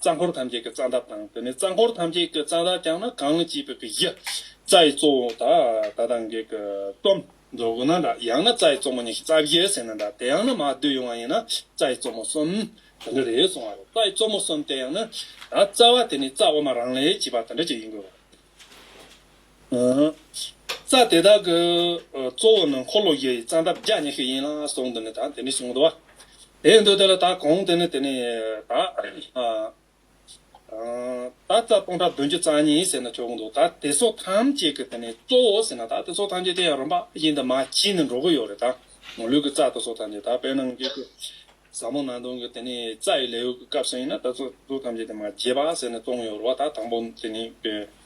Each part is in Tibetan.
རྩ་འཁོར་ཐམས་ཅད་ཀྱི་རྩ་འདབ་དང་དེ་ནས་རྩ་འཁོར་ཐམས་ཅད་ཀྱི་རྩ་འདབ་ཀྱང་ན་གང་ཅིའི་བུ་གའི་གཞི། རྩ་ཡི་གཙོ་བོ་དག་ད་དང་བགེགས་ཀྱི་གཏུམ། མདོ་དགུ་ན་འདྲ་ཡང་ན་རྩ་ཡི་གཙོ་མོ་ཉི་ཤུ་རྩ་བཞི་ཟེར་ན་འདྲ་དེ་ཡང་ན་མ་བསྡུས་ཡོང་བ་ཡིན་ན་རྩ་ཡི་གཙོ་མོ་གསུམ། དེ་འདྲ་རེད་གསུང་བ་རེད་རྩ་ཡི་གཙོ་མོ་གསུམ་དེ་ཡང་ན། རྩ་བ་དེ་ནི་རྩ་དབུ་མ་རང་ལས་བྱས་པ་དེ་འདྲ་ཅིག་ཡིན་དགོས་པ་རེད། རྩ་དེ་དག་གི་གཙོ་བོ་ནི་འཁོར་ལོ་བཞི་ཡི་རྩ་འདབ་བརྒྱ་ཉི་ཤུ་ཡིན་ལ་གཟུངས་འདི་ནི་དང་དེ་ནི་གཟུངས་བསྡུ་བ། དེ་ཡི་འདུ་དེ་ལ་དག་གོང་དེ་ནི་དེ་ནི་དག། དག་རྩ་སྟོང་ཕྲག་བདུན་ཅུ་རྩ་གཉིས་ཟེར་ན་ཆོག་འདུག་དག་དེ་ཚོ་ཐམས་ཅད་ཀྱི་དེ་ནི་གཙོ་བོ་ཟེར་ན་དག་དེ་ཚོ་ཐམས་ཅད་དེ་ཡང་རིམ་པ་བཞིན་དུ་མ་ཕྱིས་ནི་འགྲོ་གི་ཡོད་རེད་དང། ལུས་ཀྱི་རྩ་དེ་ཚོ་ཐམས་ཅད་དག་པས་ན་ངེད་ཀྱི་ཟབ་མོ་ནང་དོན་གྱི་དེ་ནི་རྩ་ཡི་ལས་ཡུལ་གྱི་སྐབས་སུ་ཡིན་ན་དག་དེ་ཚོ་ཐམས་ཅད་དེ་མ་ཕྱིས་པ་ཟེར་ནས་གཏོང་གི་ཡོད་རེད་བ་དག་དང་པོ་དེ་ནི།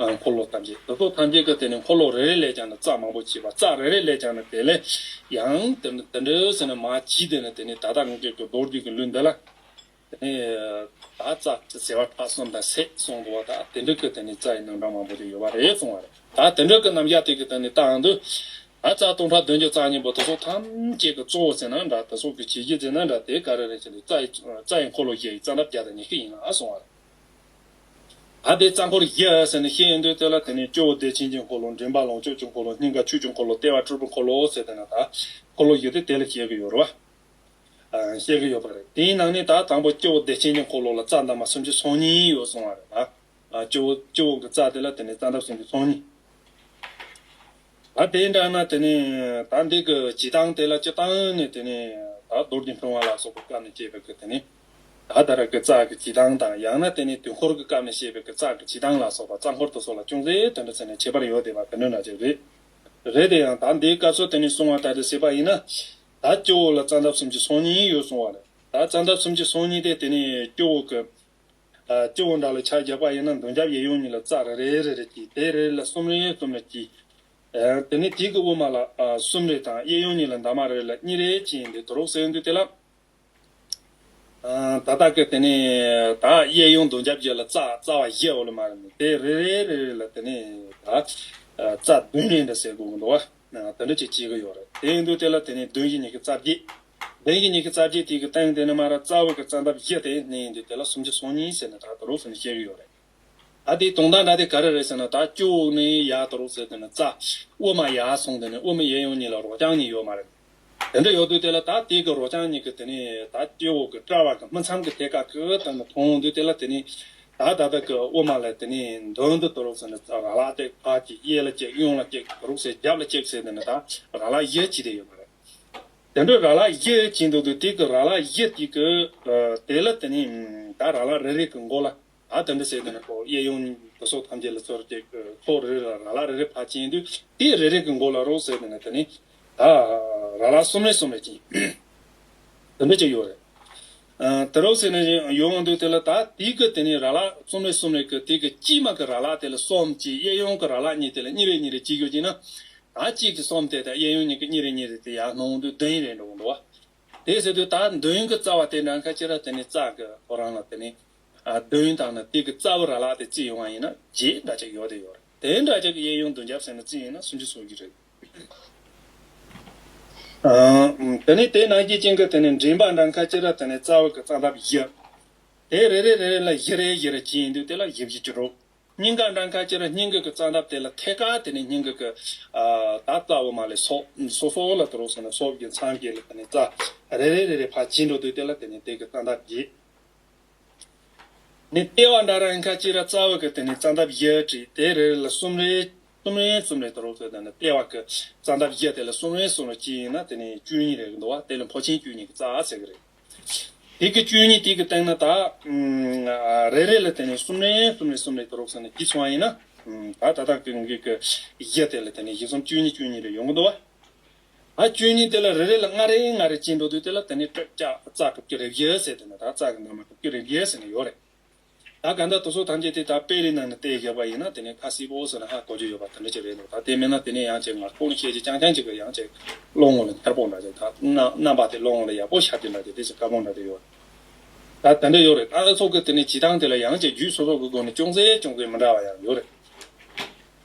འཁོར་ལོ་ཐམས་ཅད་དུ་ཐོག་ཐམས་ཅད་ཀྱི་དེ་ནས་འཁོར་ལོ་རེ་རེ་ལས་ཀྱང་ནི་རྩ་མང་པོ་བྱེད་པ་རྩ་རེ་རེ་ལས་ཀྱང་ནི་དེ་ལས་ཡང་དེ་ནི་དེ་འདྲའི་ཟེར་ན་མ་བགྱིས་དེ་ནི་དེ་ནི་ད་ལྟ་ངེད་ཀྱི་རྡོར་བརྒྱུད་ཀྱི་ལུས་འདི་ལ། དེ་ནི་ད་རྩ་ཟེར་བ་ཕྲག་གསུམ་དང་སྲས་གསུམ་དུ་བ་ད་དེ་འདྲ་ཀྱི་དེ་ནི་རྩ་ཡི་རྣམ་གྲངས་མང་པོ་དེ་ཡོད་པ་རེད་གསུང་བ་རེད་ད་དེ་འདྲ་ཀྱི་རྣམ་གཞག་དེ་ཀྱི་དེ་ནི་རྟའང་དུ། ད་རྩ་སྟོང་ཕྲག་བདུན་གྱི་རྩ་གཉིས་པོ་དུ་ཐོག་ཐམས་ཅད་ཀྱི་གཙོ་བོ་ཟེར་ན་འདྲ་དུ་སོགས་ཀྱི་བྱེད་ཀྱི་ཟེར་ན་འདྲ་དེ་ག་རེ་རེ་བྱས་ནས་རྩ་ཡི་རྩ་ཡི་འཁོར་ལོ་བརྒྱད་ཡི་རྩ་འདབ་བརྒྱ་དང་ཉི་ཤུ་ཡིན་ལ་གསུང་བ་རེད། བར་པའི་རྩ་འཁོར་བཞི་ཨ་ཟེར་ནས་ཤེས་ཡོན་དུ་སྟོད་ལ་དེ་ནས་སྤྱི་བོ་བདེ་ཆེན་གྱི་འཁོར་ལོ་མགྲིན་པ་ལོངས་སྤྱོད་ཀྱི་འཁོར་ལོ་སྙིང་ག་ཆོས་ཀྱི་འཁོར་ལོ་ལྟེ་བ་སྤྲུལ་པའི་འཁོར་ལོ་ཟེར་དེ་ན་དག་འཁོར་ལོ་བཞི་དེ་དེ་ལ་བཤད་ཀྱི་ཡོད་རོ། བཤད་ཀྱི་ཡོད་པ་རེད་དེའི་ནང་ནས་ད་དང་པོ་སྤྱི་བོ་བདེ་ཆེན་གྱི་འཁོར་ལོ་ལ་རྩ་འདབ་མ་སུམ་ཅུ་སོ་གཉིས་ཡོད་གསུང་བ་རེད་ལ། སྤྱི་བོ་སྤྱི་བོ་གི་རྩ་དེ་ལ་དེ་ནས་རྩ་འདབ་སུམ་ཅུ་སོ་གཉིས། ད་དེ་འདྲ་ན་དེ་ནས་ད་འདི་གི་བྱི་ཏང་དེ་ལ་སྤྱི་ཏང་ནས་དེ་ནས་ད་རྡོར་གྱི་འཕོ་བ་ལ་སོགས་པའི་སྐབས་ནས་སྐྱེས་པའི་གི་དེ་ནས། ད་ལྟར་གྱི་ཙག་གི་བྱེད་སྟངས་དང་ཡང་ན་དེ་ནི་དུས་འཁོར་གྱི་སྐབས་ནས་བཤད་པའི་གི་ཙག་གི་བྱེད་སྟངས་ལ་སོགས་པ་རྩ་འཁོར་དུ་སོགས་ལ་ཅུང་ཟད་དོན་འདྲ་ཚད་ནས་བྱེད་པར་ཡོད་བསྡད་པ་དེ་འདྲ་འདྲ་ཅིག་རེད། རེད་དེ་ཡང་ད་འདིའི་སྐབས་སུ་དེ་ནི་གསུང་བ་ད་དེ་ཟེར་པ་ཡིན་ན། ད་སྐྱོ་བོ་ལ་རྩ་འདབ་སུམ་ཅུ་སོ་གཉིས་ཡོད་གསུང་བ་ལས་ད་རྩ་འདབ་སུམ་ཅུ་སོ་གཉིས་དེ་དེ་ནི་སྐྱོ་བོ་གི། སྐྱོ་བོ་འདྲ་ལ་ཆ་རྒྱག་པ་ཡིན་ན་མདུན་རྒྱབ་གཡས་གཡོན་གཉིས་ལ་རྩ་རེ་རེ་རེ་རེ་གྱིས་དེ་རེ་རེ་ལ་གསུམ་རེ་གསུམ་རེ་གྱིས། དེ་ནི་དུས་ཀྱི་དབུ་མ་ལ་གསུམ་རེ་དང་གཡས་གཡོན་གཉིས་ལ་འདབ་མ་རེ་རེ་ལ་གཉིས་རེ་གྱིས་འདི་དུ་རོགས་ཟེར་འདུག་དེ་ལ། ད་ལྟ་ཀྱི་དེ་ནི་དག་གཡས་གཡོན་དུ་འཇབ་བྱེད་ལ་རྩ་བ་བཞི་འོག་ལ་མར་ནི་དེ་རེ་རེ་རེ་རེ་ལ་དེ་ནི་དག་རྩ་བདུན་རེ་འདི་སེ་གོ་གི་འདུག་བ་དེ་འདྲ་ཅིག་བྱེད་ཀྱི་ཡོད་རེད་དེ་འདུག་དེ་ལ་དེ་ནི་བདུན་གྱི་ཉི་ཁི་རྩ་བརྒྱད་བདུན་གྱི་ཉི་ཁི་རྩ་བརྒྱད་དེ་གི་སྟེང་དེ་ནི་མར་རྩ་བ་གི་རྩ་འདབ་བཞི་དེ་ནི་འདི་དེ་ལ་སུམ་ཅུ་སོ་གཉིས་ཟེར་ནི་དག་དུ་རུག་ཟེར་ནི་བཤད་ཀྱི་ཡོད་རེད། ད་དེའི་དོང་དང་འདྲ་དེ་ག་རེ་རེད་ཟེར་ན་ད་སྐྱོ་བོ་ནི་ཡག་ཏུ་རོགས་ཟེར་དེ་ནི་རྩ་དབུ་མ་ཡག་སོང་དེ་ནི་དབུ་མའི་ཡས་ཡོང་གཉིས་ལ་རོགས་རྐྱང་གཉིས་ཡོད་མ་རེད། དེ་འདྲ་ཡོད་དུས་དེ་ལ་ད་དེ་གི་རོགས་རྐྱང་གཉིས་གི་དེ་ནི་ད་སྐྱོ་བོ་གི་སྐྲ་བ་གི་སྨིན་མཚམས་གི་ཐད་ཀ་གི་དེ་ནི་མཐོང་ཡོང་དུས་དེ་ལ་དེ་ནི་ད་ད་ལྟ་གི་དབུ་མ་ལ་དེ་ནི་མདུན་དུ་དུ་རོགས་ཟེར་ནི་རྩ་ར་ལ་བཏེགས་ཕར་གྱི་གཡས་ལ་བཅེག་གཡོན་ལ་བཅེག་རོགས་ཟེར་རྒྱབ་ལ་བཅེག་ཟེར་དེ་ནི་ད་ར་ལ་གཡས་གྱིས་དེ་ཡོད་མ་རེད། དེ་འདྲ་ར་ལ་གཡས་གྱིས་འདུག་དུས་དེ་གི་ར་ལ་གཡས་དེ་གི་དེ་ལ་དེ་ནི་ད་ར་ལ་རེ་རེ་གི་མགོ་ལ། ཨ་དེ་འདྲ་བྱས་དེ་ནས་ཁོ་གཡས་གཡོན་སྡོད་སོགས་ཐམས་ཅད་ལ་ཚོར་ཅིག་ཁོ་རེ་རེ་ལ་ར་ལ་རེ་རེ་བར་བཅིངས་དུས་དེ་རེ་རེ་གི་མགོ་ལ་རོགས་ཟེར་དེ་ནས་དེ་ནི་ད་ར་ལ་གསུམ་རེ་གསུམ་རེ་བཅིངས། དེ་འདྲ་ཅིག་ཡོད་རེད། དེ་རོགས་ཟེར་ནས་ཡོང་བ་འདུག་དེ་ལ་ད་དེ་གི་དེ་ནི་ར་ལ་གསུམ་རེ་གསུམ་རེ་གི་དེ་གི་དཀྱིས་མ་གི་ར་ལ་དེ་ལ་གསུམ་གཅིག་གཡས་གཡོན་གི་ར་ལ་གཉིས་དེ་ལ་གཉིས་རེ་གཉིས་རེ་གཅིག་ཡོད་ཅིག་ན། ད་གཅིག་གི་གསུམ་དེ་དང་གཡས་གཡོན་གཉིས་ཀྱི་གཉིས་རེ་གཉིས་རེ་དེ་ཡར་སྣང་དུས་བདུན་རེ་འགྲོ་གི་འདུག་བ། དེ་ཟེར་དུས་ད་བདུན་གི་རྩ་བ་དེ་འདྲ་ཁ་ཅིག་ར་དེ་ནི་རྩ་གི་ཐོ་རངས་ལ་དེ་ནི་དོན་དག་ནི་དེ་གི་རྩ་བ་ར་ལག་དེ་རྩི་ཡོང་བ་ཡིན་ན་རྗེས་འདྲ་ཅིག་ཡོད་དེ་ཡོད་རེད་དེ་འདྲ་ཅིག་གི་གཡས་གཡོན་བདུན་བརྒྱ་བསྲེས་ན་རྩི་ཡིན་ན་སུ་འདྲི་ཟོ་གི་རེད། དེ་ནི་དེ་ནང་གི་རྐྱེན་གི་དེ་ནི་མགྲིན་པ་འདྲ་མཁའ་སྤྱི་ར་དེ་ནི་རྩ་བ་གི་རྩ་འདབ་བཞི། དེ་རེ་རེ་རེ་རེ་ལ་བཞི་རེ་བཞི་རེ་གྱིས་ཡིན་དུས་དེ་ལ་བཞི་བཞི་བཅུ་དྲུག། སྙིང་ག་འདྲ་མཁའ་སྤྱི་ར་སྙིང་གི་གི་རྩ་འདབ་དེ་ལ་ཐད་ཀ་དེ་ནི་སྙིང་གི་གི། ད་རྩ་བ་མ་ལས་སོགས་སོ་སོ་ལ་དུ་རུག་སོང་ནས་སོགས་ཀྱི་མཚམས་ཀྱི་ལ་དེ་ནི་རྩ། རེ་རེ་རེ་རེ་བར་གྱིས་འགྲོ་དུས་དེ་ལ་དེ་ནི་དེ་གི་རྩ་འདབ་བརྒྱད། ནི་ལྟེ་བ་འདྲ་རང་ཁ་ཅིག་ར་རྩ་འོད་ཀྱི་དེ་ནི་རྩ་འདབ་བཞི་བྲིས་ཏེ་རེ་རེ་ལ་གསུམ་རེ་གསུམ་རེ་གསུམ་རེ་དུ་རོ་བཟོས་ན་ནི་ལྟེ་བ་ཀྱི་རྩ་འདབ་བཞི་དེ་ལ་གསུམ་རེ་གསུམ་རེ་གཅིག་ཡིན་ན་དེ་ནི་བཅུ་གཉིས་རེ་འདུ་བ་དེ་ལ་འཕོ་ཆེན་བཅུ་གཉིས་ཀྱི་རྩ་ཟེར་གྱི་རེད། དེ་ཀྱི་བཅུ་གཉིས་དེ་ཀྱི་སྟེང་ན་དག། རེ་རེ་ལ་དེ་ནི་གསུམ་རེ་གསུམ་རེ་གསུམ་རེ་དུ་རོ་བཟོས་ན་བཞི་ཚོ་བ་ཡིན་ན། ད་ལྟ་དག་གི་དགུ་གི་བཞི་དེ་ལ་དེ་ནི་བཞི་གསུམ་བཅུ་གཉིས་བཅུ་གཉིས་རེ་ཡོང་གི་འདུ་བ། ང་བཅུ་གཉིས་དེ་ལ་རེ་རེ་ལ་ལྔ་རེ་ལྔ་རེ་བཅིངས་འགྲོ་དུས་དེ་ལ་དེ་ནི་སྤྲོད་སྐྱ་རྩ་གྲུབ་ཀྱི་རེ་བཞི་ཟེར་དེ་ནི་དག་རྩ་གི་ནང་ན་གྲུབ་ཀྱི་རེ་བཞི་ཟེར་ནི་ཡོད་རེད། ད་ག་འདྲ་དུ་སོ་ཐམས་ཅད་དེ་དག་དཔེ་རིས་ནང་ནས་དེ་བཞག་པ་ཡིན་ན་དེ་ནི་ཁ་སིལ་བོ་ཟེར་ན་ཧ་གོ་རྒྱུ་ཡོད་པ་དེ་འདྲ་ཅིག་རེད་འདུག་ད་དེ་མིན་ན་དེ་ནི་ཡང་ཅིག་ངར་ཁུག་ནི་ཤེད་ཅིག་རྐྱང་རྐྱང་ཅིག་གི་ཡང་ཅིག་བློ་ངོ་ལ་འཁྱར་པོ་འདྲ་ཅིག་དག་རྣམ་པ་དེ་བློ་ངོ་ལ་ཡག་པོ་ཤར་གྱི་འདྲ་ཅིག་དེ་ཅིག་དཀར་པོ་འདྲ་ཅིག་ཡོད་རེད། ད་དེ་འདྲ་ཡོད་རེད་ཨ་ཨེ་སོགས་ཀྱི་དེ་ནི་བྱེད་སྟངས་དེ་ལ་ཡང་ཅིག་རྒྱུད་སོ་སོ་གི་སྒོ་ནས་ཅུང་ཟད་ཅུང་ཟད་མི་འདྲ་བ་ཡང་ཡོད་རེད།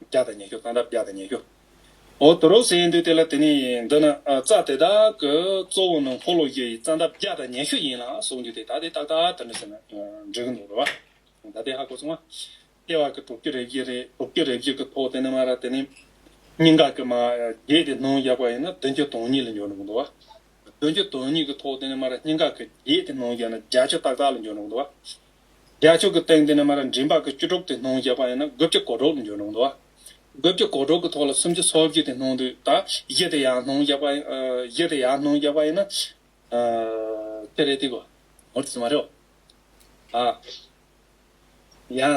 བརྒྱ་དང་ཉེར་བཅུ་དང་རབ་བརྒྱ་དང་ཉེར་བཅུ། འོ་དོ་རོགས་ཟེར་འདུག་དེ་ལ་དེ་ནི་འདི་ན་རྩ་དེ་དག་གི་གཙོ་བོ་ནི་འཁོར་ལོ་བརྒྱད་ཡི་རྩ་འདབ་བརྒྱ་དང་ཉེར་བཅུ་ཡིན་ལ་གསུངས་རྒྱུ་དེ་ད་དེ་ཏག་ཏག་དེ་མི་ཟེར་ན་འགྲིག་གི་འདུག་ལོ། ད་དེ་ཧ་གོ་སོང་ང། ལྟེ་བ་གི་དྲུག་ཅུ་རེ་བཞི་རེ་དྲུག་ཅུ་རེ་བཞི་གི་ཐོག་དེ་ནི་མ་ར་དེ་ནི་སྙིང་ག་གི་མ་བརྒྱད་དེ་སྣང་རྒྱག་པ་ཡིན་ན་བདུན་ཅུ་དོན་གཉིས་ལ་འཇོག་འགྲོ་གི་འདུག་བ། བདུན་ཅུ་དོན་གཉིས་གི་ཐོག་དེ་ནི་མ་ར་སྙིང་ག་གི་བརྒྱད་དེ་སྣང་རྒྱག་ན་བརྒྱ་ཅུ་ཏག་ཏག་ལ་འཇོག་འགྲོ་གི་འདུག་བ། རྒྱལ་ཕྱོགས་ཀྱི་སྟེང་དེ་ནས་མ་ར་མགྲིན་པ་ཀྱི་བཅུ་དྲུག་དེ་སྣང་བརྒྱད་པ་ཡིན་ན་དགུ་བརྒྱ་གོ་དྲུག་ལ་འགྱུར་རུང་དུ། དགུ་བརྒྱ་གོ་དྲུག་གི་ཐོག་ལ་སུམ་ཅུ་སོ་བཞི་དེ་སྣང་དུས་ད་བཞི་དེ་ཡང་སྣང་བརྒྱད་པ་ཡིན་བཞི་དེ་ཡང་སྣང་བརྒྱད་པ་ཡིན་ན། དེ་རེད་དེ་གོ། ངོ་ཚ་མ་རེད། ཡང།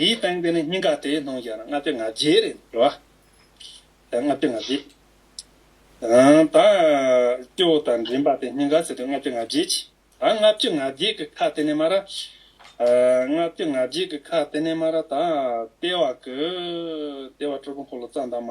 ཡིད་བཏང་དེ་ནི་སྙིང་ག་དེའི་ནང་ཡང་ལྔ་བརྒྱ་ང་བརྒྱད་རེད་འགྲོ་བ། ལྔ་བརྒྱ་ང་བརྒྱད། ཨང། ད་སྐྱེ་བོ་དང་འདྲེན་པ་དེ་སྙིང་ག་ཟེར་དུས་ལྔ་བརྒྱ་ང་བརྒྱད་ཅི། ད་ལྔ་བཅུ་ང་བརྒྱད་ཀྱི་ཁ་དེ་ནས་མ་ར། ལྔ་བཅུ་ང་བརྒྱད་ཀྱི་ཁ་དེ་ནས་མ་ར་ད་ལྟེ་བ་གི། ལྟེ་བ་སྤྲུལ་སྐུ་འཁོར་ལོ་རྩ་འདབ་མ།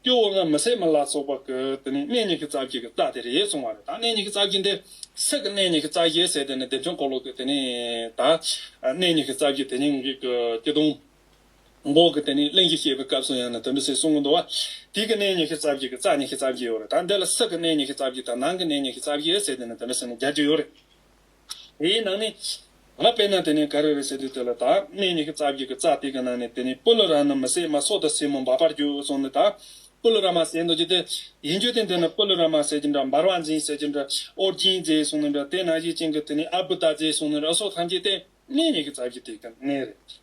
སྐྱོ་བོ་ལྔ་མི་བསད་མི་ལ་སོགས་པ་ཀུ་དེ་ནི་གནས་ཉི་ཤུ་རྩ་བརྒྱད་ཀྱི་རྩ་དེ་རེད་གསུང་བ་རེད་ད་གནས་ཉི་ཤུ་རྩ་བརྒྱད་འདི་སྲིད་ཀྱི་གནས་ཉི་ཤུ་རྩ་བརྒྱད་ཟེར་དེ་ནི་བདེ་མཆོག་འཁོར་ལོ་ཀུ་དེ་ནི་ད་གནས་ཉི་ཤུ་རྩ་བརྒྱད་དེ་ཉིད་ཀྱི་ཀུ་སྐྱི་སྟོང་འགོག་གི་དེ་ནི་གླིང་གཞི་བཤད་པའི་སྐབས་སུ་ཡང་ནི་དོན་དུ་སྲིད་གསུམ་གྱི་འདུ་བ་དུས་ཀྱི་གནས་ཉི་ཤུ་རྩ་བརྒྱད་ཀྱི་རྩ་ཉི་ཤུ་རྩ་བརྒྱད་ཡོད་རེད་ད་འདི་ལ་སྲིད་ཀྱི་གནས་ཉི་ཤུ་རྩ་བརྒྱད་དང་ནང་གི་གནས་ཉི་ཤུ་རྩ་བརྒྱད་ཟེར་དེ་ནི་དོན་དུ་སྲིད་ནི་བརྒྱད་ཅུ་ཡོད་རེད། དེའི་ནང་ནས། ང་དཔེར་ན་དེ་ནས་ག་རེ་རེད་ཟེར་དུས་དེ་ལ་དག་སྣེ་གཉིས་ཀྱི་རྩ་བརྒྱུད་ཀྱི་རྩ་སྟེགས་ཀྱི་ནང་ནས་དེ་ནས་སྤུ་ལོ་ར་ནི་མི་བསད་མ་སྲོག་དང་སྲིན་མོ་འབར་བར་གྱུར་སོང་ནས་དག་སྤུ་ལོ་ར་མ་བསད་འདོད་ཀྱི་དེ་ཡིན་རྒྱུ་དེ་འདི་ནི་སྤུ་ལོ་ར་མ་བསད་ཀྱི་འདྲ་འབར་བ་འཛིན་བསད་ཀྱི་འདྲ་ཨོ་རྒྱན་མཛད་སོང་ནས་འདྲ་དེ་ནང་བཞིན་ཅན་གྱི་དེ་ནས་ཨ་བུ་ད་མཛད་སོང་ནས་འདྲ་སོགས་ཐམས་ཅད་ལྟེ་གནས་གཉིས་ཀྱི་རྩ་བརྒྱུད་སྟེགས་ཀྱི་གནས་རེད།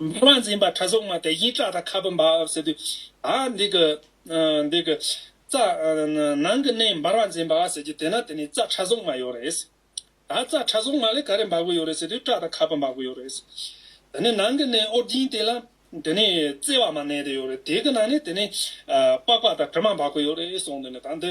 མ་མ་འཛིན་པ་ཁྲ་སོགས་མ་དེ་བཞིན་སྐྲ་དང་ཁ་སྤུ་འབར་བ་བསིལ་དུས། ཨ། འདི་ཀི། འདི་ཀི། རྩ། ནང་གི་གནས་འབར་བ་འཛིན་པ་ཟེར་གྱི་དེས་ན་དེ་ནི་རྩ་ཁྲ་སོགས་མ་ཡོད་རེད། ད་རྩ་ཁྲ་སོགས་མ་ལས་ག་རེ་འབར་པོ་ཡོད་རེད་ཟེར་དུས་སྐྲ་དང་ཁ་སྤུ་འབར་པོ་ཡོད་རེད། དེ་ནི་ནང་གི་གནས་ཨོ་རྒྱན་དེ་ལ་དེ་ནི་རྩེ་བ་མ་གནས་དེ་ཡོད་རེད་དེ་གི་ནང་ནས་དེ་ནི་པགས་པ་དང་དྲི་མ་འབར་པོ་ཡོད་རེད་གསུངས་དོན་ནི་ད་འདི།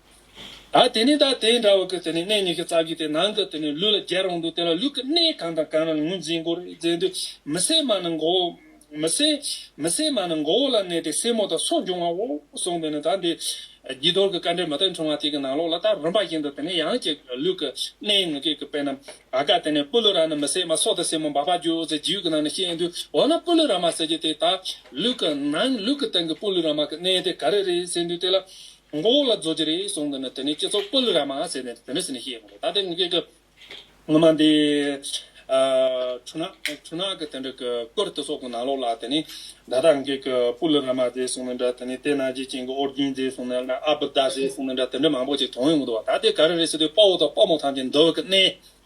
ད་དེ་ནས་ད་དེ་འདྲ་བ་ཀི་དེ་ནས་གནས་གཉིས་ཀི་རྩ་བརྒྱུད་དེ་ནང་གི་དེ་ནས་ལུས་ལ་རྒྱལ་རང་འདུག་དེ་ལ་ལུས་ཀི་གནས་གང་དང་གང་ན་ལ་ངོས་འཛིན་མགོ་རུ་འཛིན་དུ་མི་སེར་མ་ནི་མགོ་བོ་མི་སེར་མི་སེར་མ་ནི་མགོ་བོ་ལ་གནས་ཏེ་སེར་མོ་དང་སོགས་འབྱུང་བའོ་གསུངས་དེ་ནས་ད་འདི་བགྱིས་རྡོར་གི་བཀའ་འགྲེལ་མ་དག་འཁྲུངས་བ་དེ་གི་ནང་ལོགས་ལ་ད་རིམ་པ་བཞིན་དུ་དེ་ནས་ཡང་ཅིག་ལུས་ཀི་གནས་ངུ་སྐད་ཀི་དཔེ་ན་བ་ཀ་དེ་ནས་སྤུ་ལུ་ར་ནི་མི་སེར་མ་སོགས་དང་སེར་མོ་འབར་བ་རྒྱུ་ཟེར་རྒྱུད་ཀི་ནང་ནས་ཤེས་འདུག་འོ་ན་སྤུ་ལུ་ར་མ་ཟེར་རྒྱུ་དེ་ད་ལུས་ཀི་ནང་ལུས་ཀི་སྟེང་གི་སྤུ་ལུ་ར་མ་ཀི་གནས་དེ་ག་རེ་རེད་ཟེར་འདུག་དེ་ལ་མགོ་བོ་ལ་རྫོ་རྗེ་རེ་ཟུང་འདུག་ནས་དེ་ནས་སྤྱི་ཚོགས་སྤུ་ལི་ར་མ་ཟེར་ནས་དེ་ནས་ཟེར་ནས་ཤེས་ཡོང་གི་རེད་ད་དེ་ངུ་སྐད་ཀྱི་ངུ་མ་འདི། འཁྲུ་ནག་འཁྲུ་ནག་གི་དེ་འདྲ་གི་ཀོར་དེ་སོགས་གི་ནང་ལོགས་ལ་དེ་ནས་ད་ལྟ་ངུ་སྐད་ཀྱི་སྤུ་ལི་ར་མ་ཟེར་སོང་ནི་འདྲ་དེ་ནས་དེ་ན་རྗེ་ཅན་གྱི་ཨོ་རྒྱན་ཟེར་སོང་ནི་འདྲ་ཨ་བུ་ད་ཟེར་སོང་ནི་འདྲ་དེ་འདྲ་མང་པོ་ཅིག་དོང་ཡོང་གི་འདུག་བ་ད་དེ་ག་རེ་རེད་ཟེར་དུས་དཔའ་བོ་དང་དཔའ་མོ་ཐམས་ཅད་འདུ་བ་གི་གནས་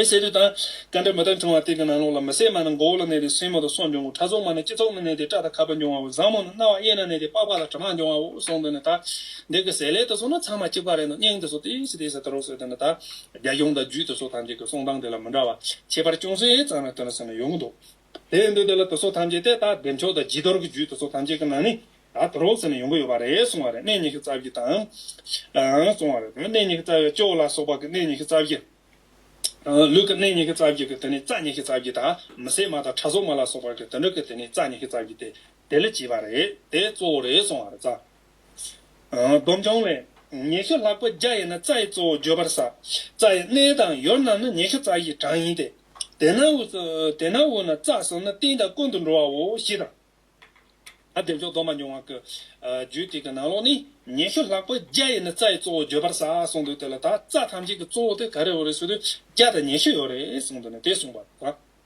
པའི་ཟས་རིགས་དང། རྐང་འདྲ་མི་དག་འབྱུང་བ་དེ་གི་ནང་ལོགས་ལ་མི་བསད་མ་ནི་མགོ་བོ་ལ་གནས་ཏེ་སྲིན་མོ་དང་སོགས་འབྱུང་ངོ་ཕྲ་ཚོགས་མ་ནི་སྤྱི་ཚོགས་ན་གནས་ཏེ་སྐྲ་དང་ཁ་བ་འབྱུང་བའོ་བཟང་མོ་ནི་རྣ་བ་གཡས་ན་གནས་ཏེ་པགས་པ་དང་དྲི་མ་འབྱུང་བའོ་གསུངས་དོན་ནི་དག། འདི་གི་ཟས་ལས་དེ་སོགས་ནི་ཚང་མ་གཅིག་པ་རེད་ནོ་སྙིང་དེ་སོགས་དེ་ཡི་ཟས་དེ་ཡི་ཟས་དེ་རོ་ཟེར་དོན་ནི་དག། རྒྱ་གཞུང་དང་རྒྱུད་དེ་སོགས་ཐམས་ཅད་ཀྱི་གསུང་སྟངས་དེ་ལ་མི་འདྲ་བ་ཁྱད་པར་ཅུང་ཟད་ཙམ་རེ་སྟོན་ན་ཟེར་ནི་ཡོང་གི་འདུག། དེ་འདུག་དེ་ལ་དུ་སོགས་ཐམས་ཅད་དེ་ལྟ་བདེ་མཆོག་དང་ལྗིད་རྡོར་གྱི་རྒྱུད་དུ་སོགས་ཐམས་ཅད་ཀྱི་ནང་ནས་ད་དུ་རོ་ཟེར་ནས་ཡོང་གི་ཡོད་པ་རེད་གསུང་བ་རེད་གནས་ཉི་ཤུ་རྩ་བཞི་དང། གསུང་བ་རེད་གནས་ཉི་ཤུ་རྩ་བཞི་ཅོག་ལ་སོགས་པ་གི་གནས་ཉི་ཤུ་རྩ་བཞི། ལུས་ཀྱི་གནས་ཉི་ཤུ་རྩ་བཞི་གི་དེ་ནས་རྩ་ཉི་ཤུ་རྩ་བཞི་དང་མི་སྲེད་མ་དང་ཕྲ་སོགས་མ་ལ་སོགས་པ་གི་དུད་འགྲོ་གི་དེ་ནས་རྩ་ཉི་ཤུ་རྩ་བཞི་སྟེ་དེ་ལས་བྱས་པ་རེད་དེ་གཙོ་བོ་རེད་གསུང་བ་རེད། སྡོམ་འབྱུང་བས། ཉེ་ཤུ་ལྷག་པོ་རྒྱ་ཡིན་ན་རྩ་ཡི་གཙོ་བོ་བརྗོད་པར་ཟ། རྩ་ཡི་སྣེ་དང་ཡོར་རྣམས་ནི་ཉེ་ཤུ་རྩ་བཞིའི་གྲངས་ཡིན་ཏེ། དེ་ན་འུ། དེ་ན་འུ་ན་རྩ་གསུམ་ནི་སྟེང་དང་ཀུན་དུ་འགྲོ་བའོ་ཞེས་དང། བདེ་མཆོག་སྡོམ་པ་འབྱུང་བ་ཀྱི། རྒྱུད་དེ་གི་ནང་ལོགས་ནི། ཉེ་ཤུ་ལྷག་པོ་རྒྱ་ཡིན་ན་རྩ་ཡི་གཙོ་བོ་བརྗོད་པར་ཟ་གསུངས་འདུག་དེ་ལ་དག་རྩ་ཐམས་ཅད་ཀྱི་གཙོ་བོ་དེ་ག་རེ་འོ་རེ་ཟུར་དུ་རྒྱ་དང་ཉེ་ཤུ་ཡོད་རེ་གསུངས་འདུག་ནས་དེ་གསུངས་པ་དང།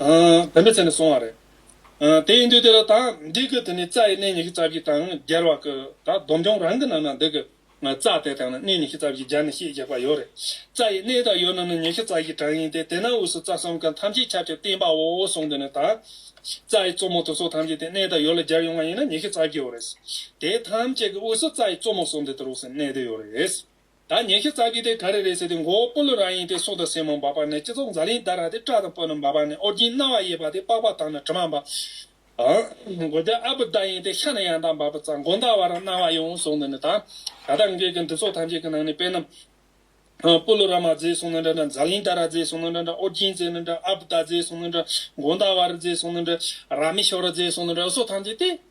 བོད་མི་ཚེ་ནས་སོང་བ་རེད། དེ་ཡིན་དུས་དེ་ལ་ད་འགྲིག་གི་དེ་ནི་རྩྭ་ཡི་སྣེ་ཉི་ཤུ་རྩ་བཞི་དང་སྒྱེར་བ་ཀི་ད་སྡོམ་རྐྱང་རང་གི་ནང་ན་འདུག་གི་རྩྭ་དེ་དང་ན་སྣེ་ཉི་ཤུ་རྩ་བཞི་སྦྱར་ནས་ཤིས་རྒྱག་པ་ཡོད་རེད། རྩྭ་ཡི་སྣེ་དང་ཡོད་ན་ནི་ཉི་ཤུ་རྩ་བཞི་གྲངས་ཡིན་ཏེ་དེ་ན་དབུས་སུ་རྩྭ་གསུམ་ཀ་ཐམས་ཅད་ཁྱབ་ཅིང་བསྟན་པ་འོ་འོ་གསུངས་དེ་ནས་ད་རྩྭ་ཡི་གཙོ་མོ་དོ་སོ་ཐམས་ཅད་དེ་སྣེ་དང་ཡོད་ལ་སྦྱར་ཡོང་བ་ཡིན་ན་ཉི་ཤུ་རྩ་བརྒྱད་འོ་རེད། དེ་ཐམས་ཅད་ཀི་དབུས་སུ་རྩྭ་ཡི་གཙོ་མོ་སོ་འདི་དུ་རོགས་སེ་སྣེ་དེ་ཡོད་རེད། ད་ཉེ་ཁེ་ཙག་གི་དེ་ག་རེ་རེད་ཟེར་ཏེ་མགོ་བོ་སྤོ་ལོ་རང་ཡིན་ཏེ་སྲོག་དང་སེན་མོ་འབབ་པ་ནས་སྤྱི་ཚོགས་འཛའ་ལིང་ལྟར་རག་སྟེ་སྐྲ་དང་སྤོ་ལོ་འབབ་པ་ནས་ཨོ་རྒྱན་རྣ་བ་གཡས་པ་དེ་པགས་པ་དང་ནི་དྲི་མ་འབབ། མགོ་དེ་ཨ་བུ་ལྟར་ཡིན་ཏེ་ཤ་ནི་ཡང་དག་འབབ་པ་ཙག་མགོ་འདར་བ་རང་རྣ་བ་ཡོང་ངོ་སོང་ནི་ནི་དང། ད་ལྟ་འགས་ཀྱི་འདི་ཚོགས་ཐམས་ཅད་ཀྱི་ནང་ནས་དཔེ་རྣམས། སྤོ་ལོ་ར་མ་མཛེས་སོང་ནི་འདྲ་འདྲ་འཛའ་ལིང་ལྟར་ར་མཛེས་སོང་ནི་འདྲ་འདྲ་ཨོ་རྒྱན་མཛེས་ནི་འདྲ་ཨ་བུ་ལྟར་མཛེས་སོང་ནི་འདྲ་མགོ་འདར་བ་ར་མཛེས་སོང་ནི་འདྲ་ར་མི་ཤོར་ར་མཛེས་སོང་ནི་འདྲ་འུ་སོགས་ཐམས་ཅད་དེ།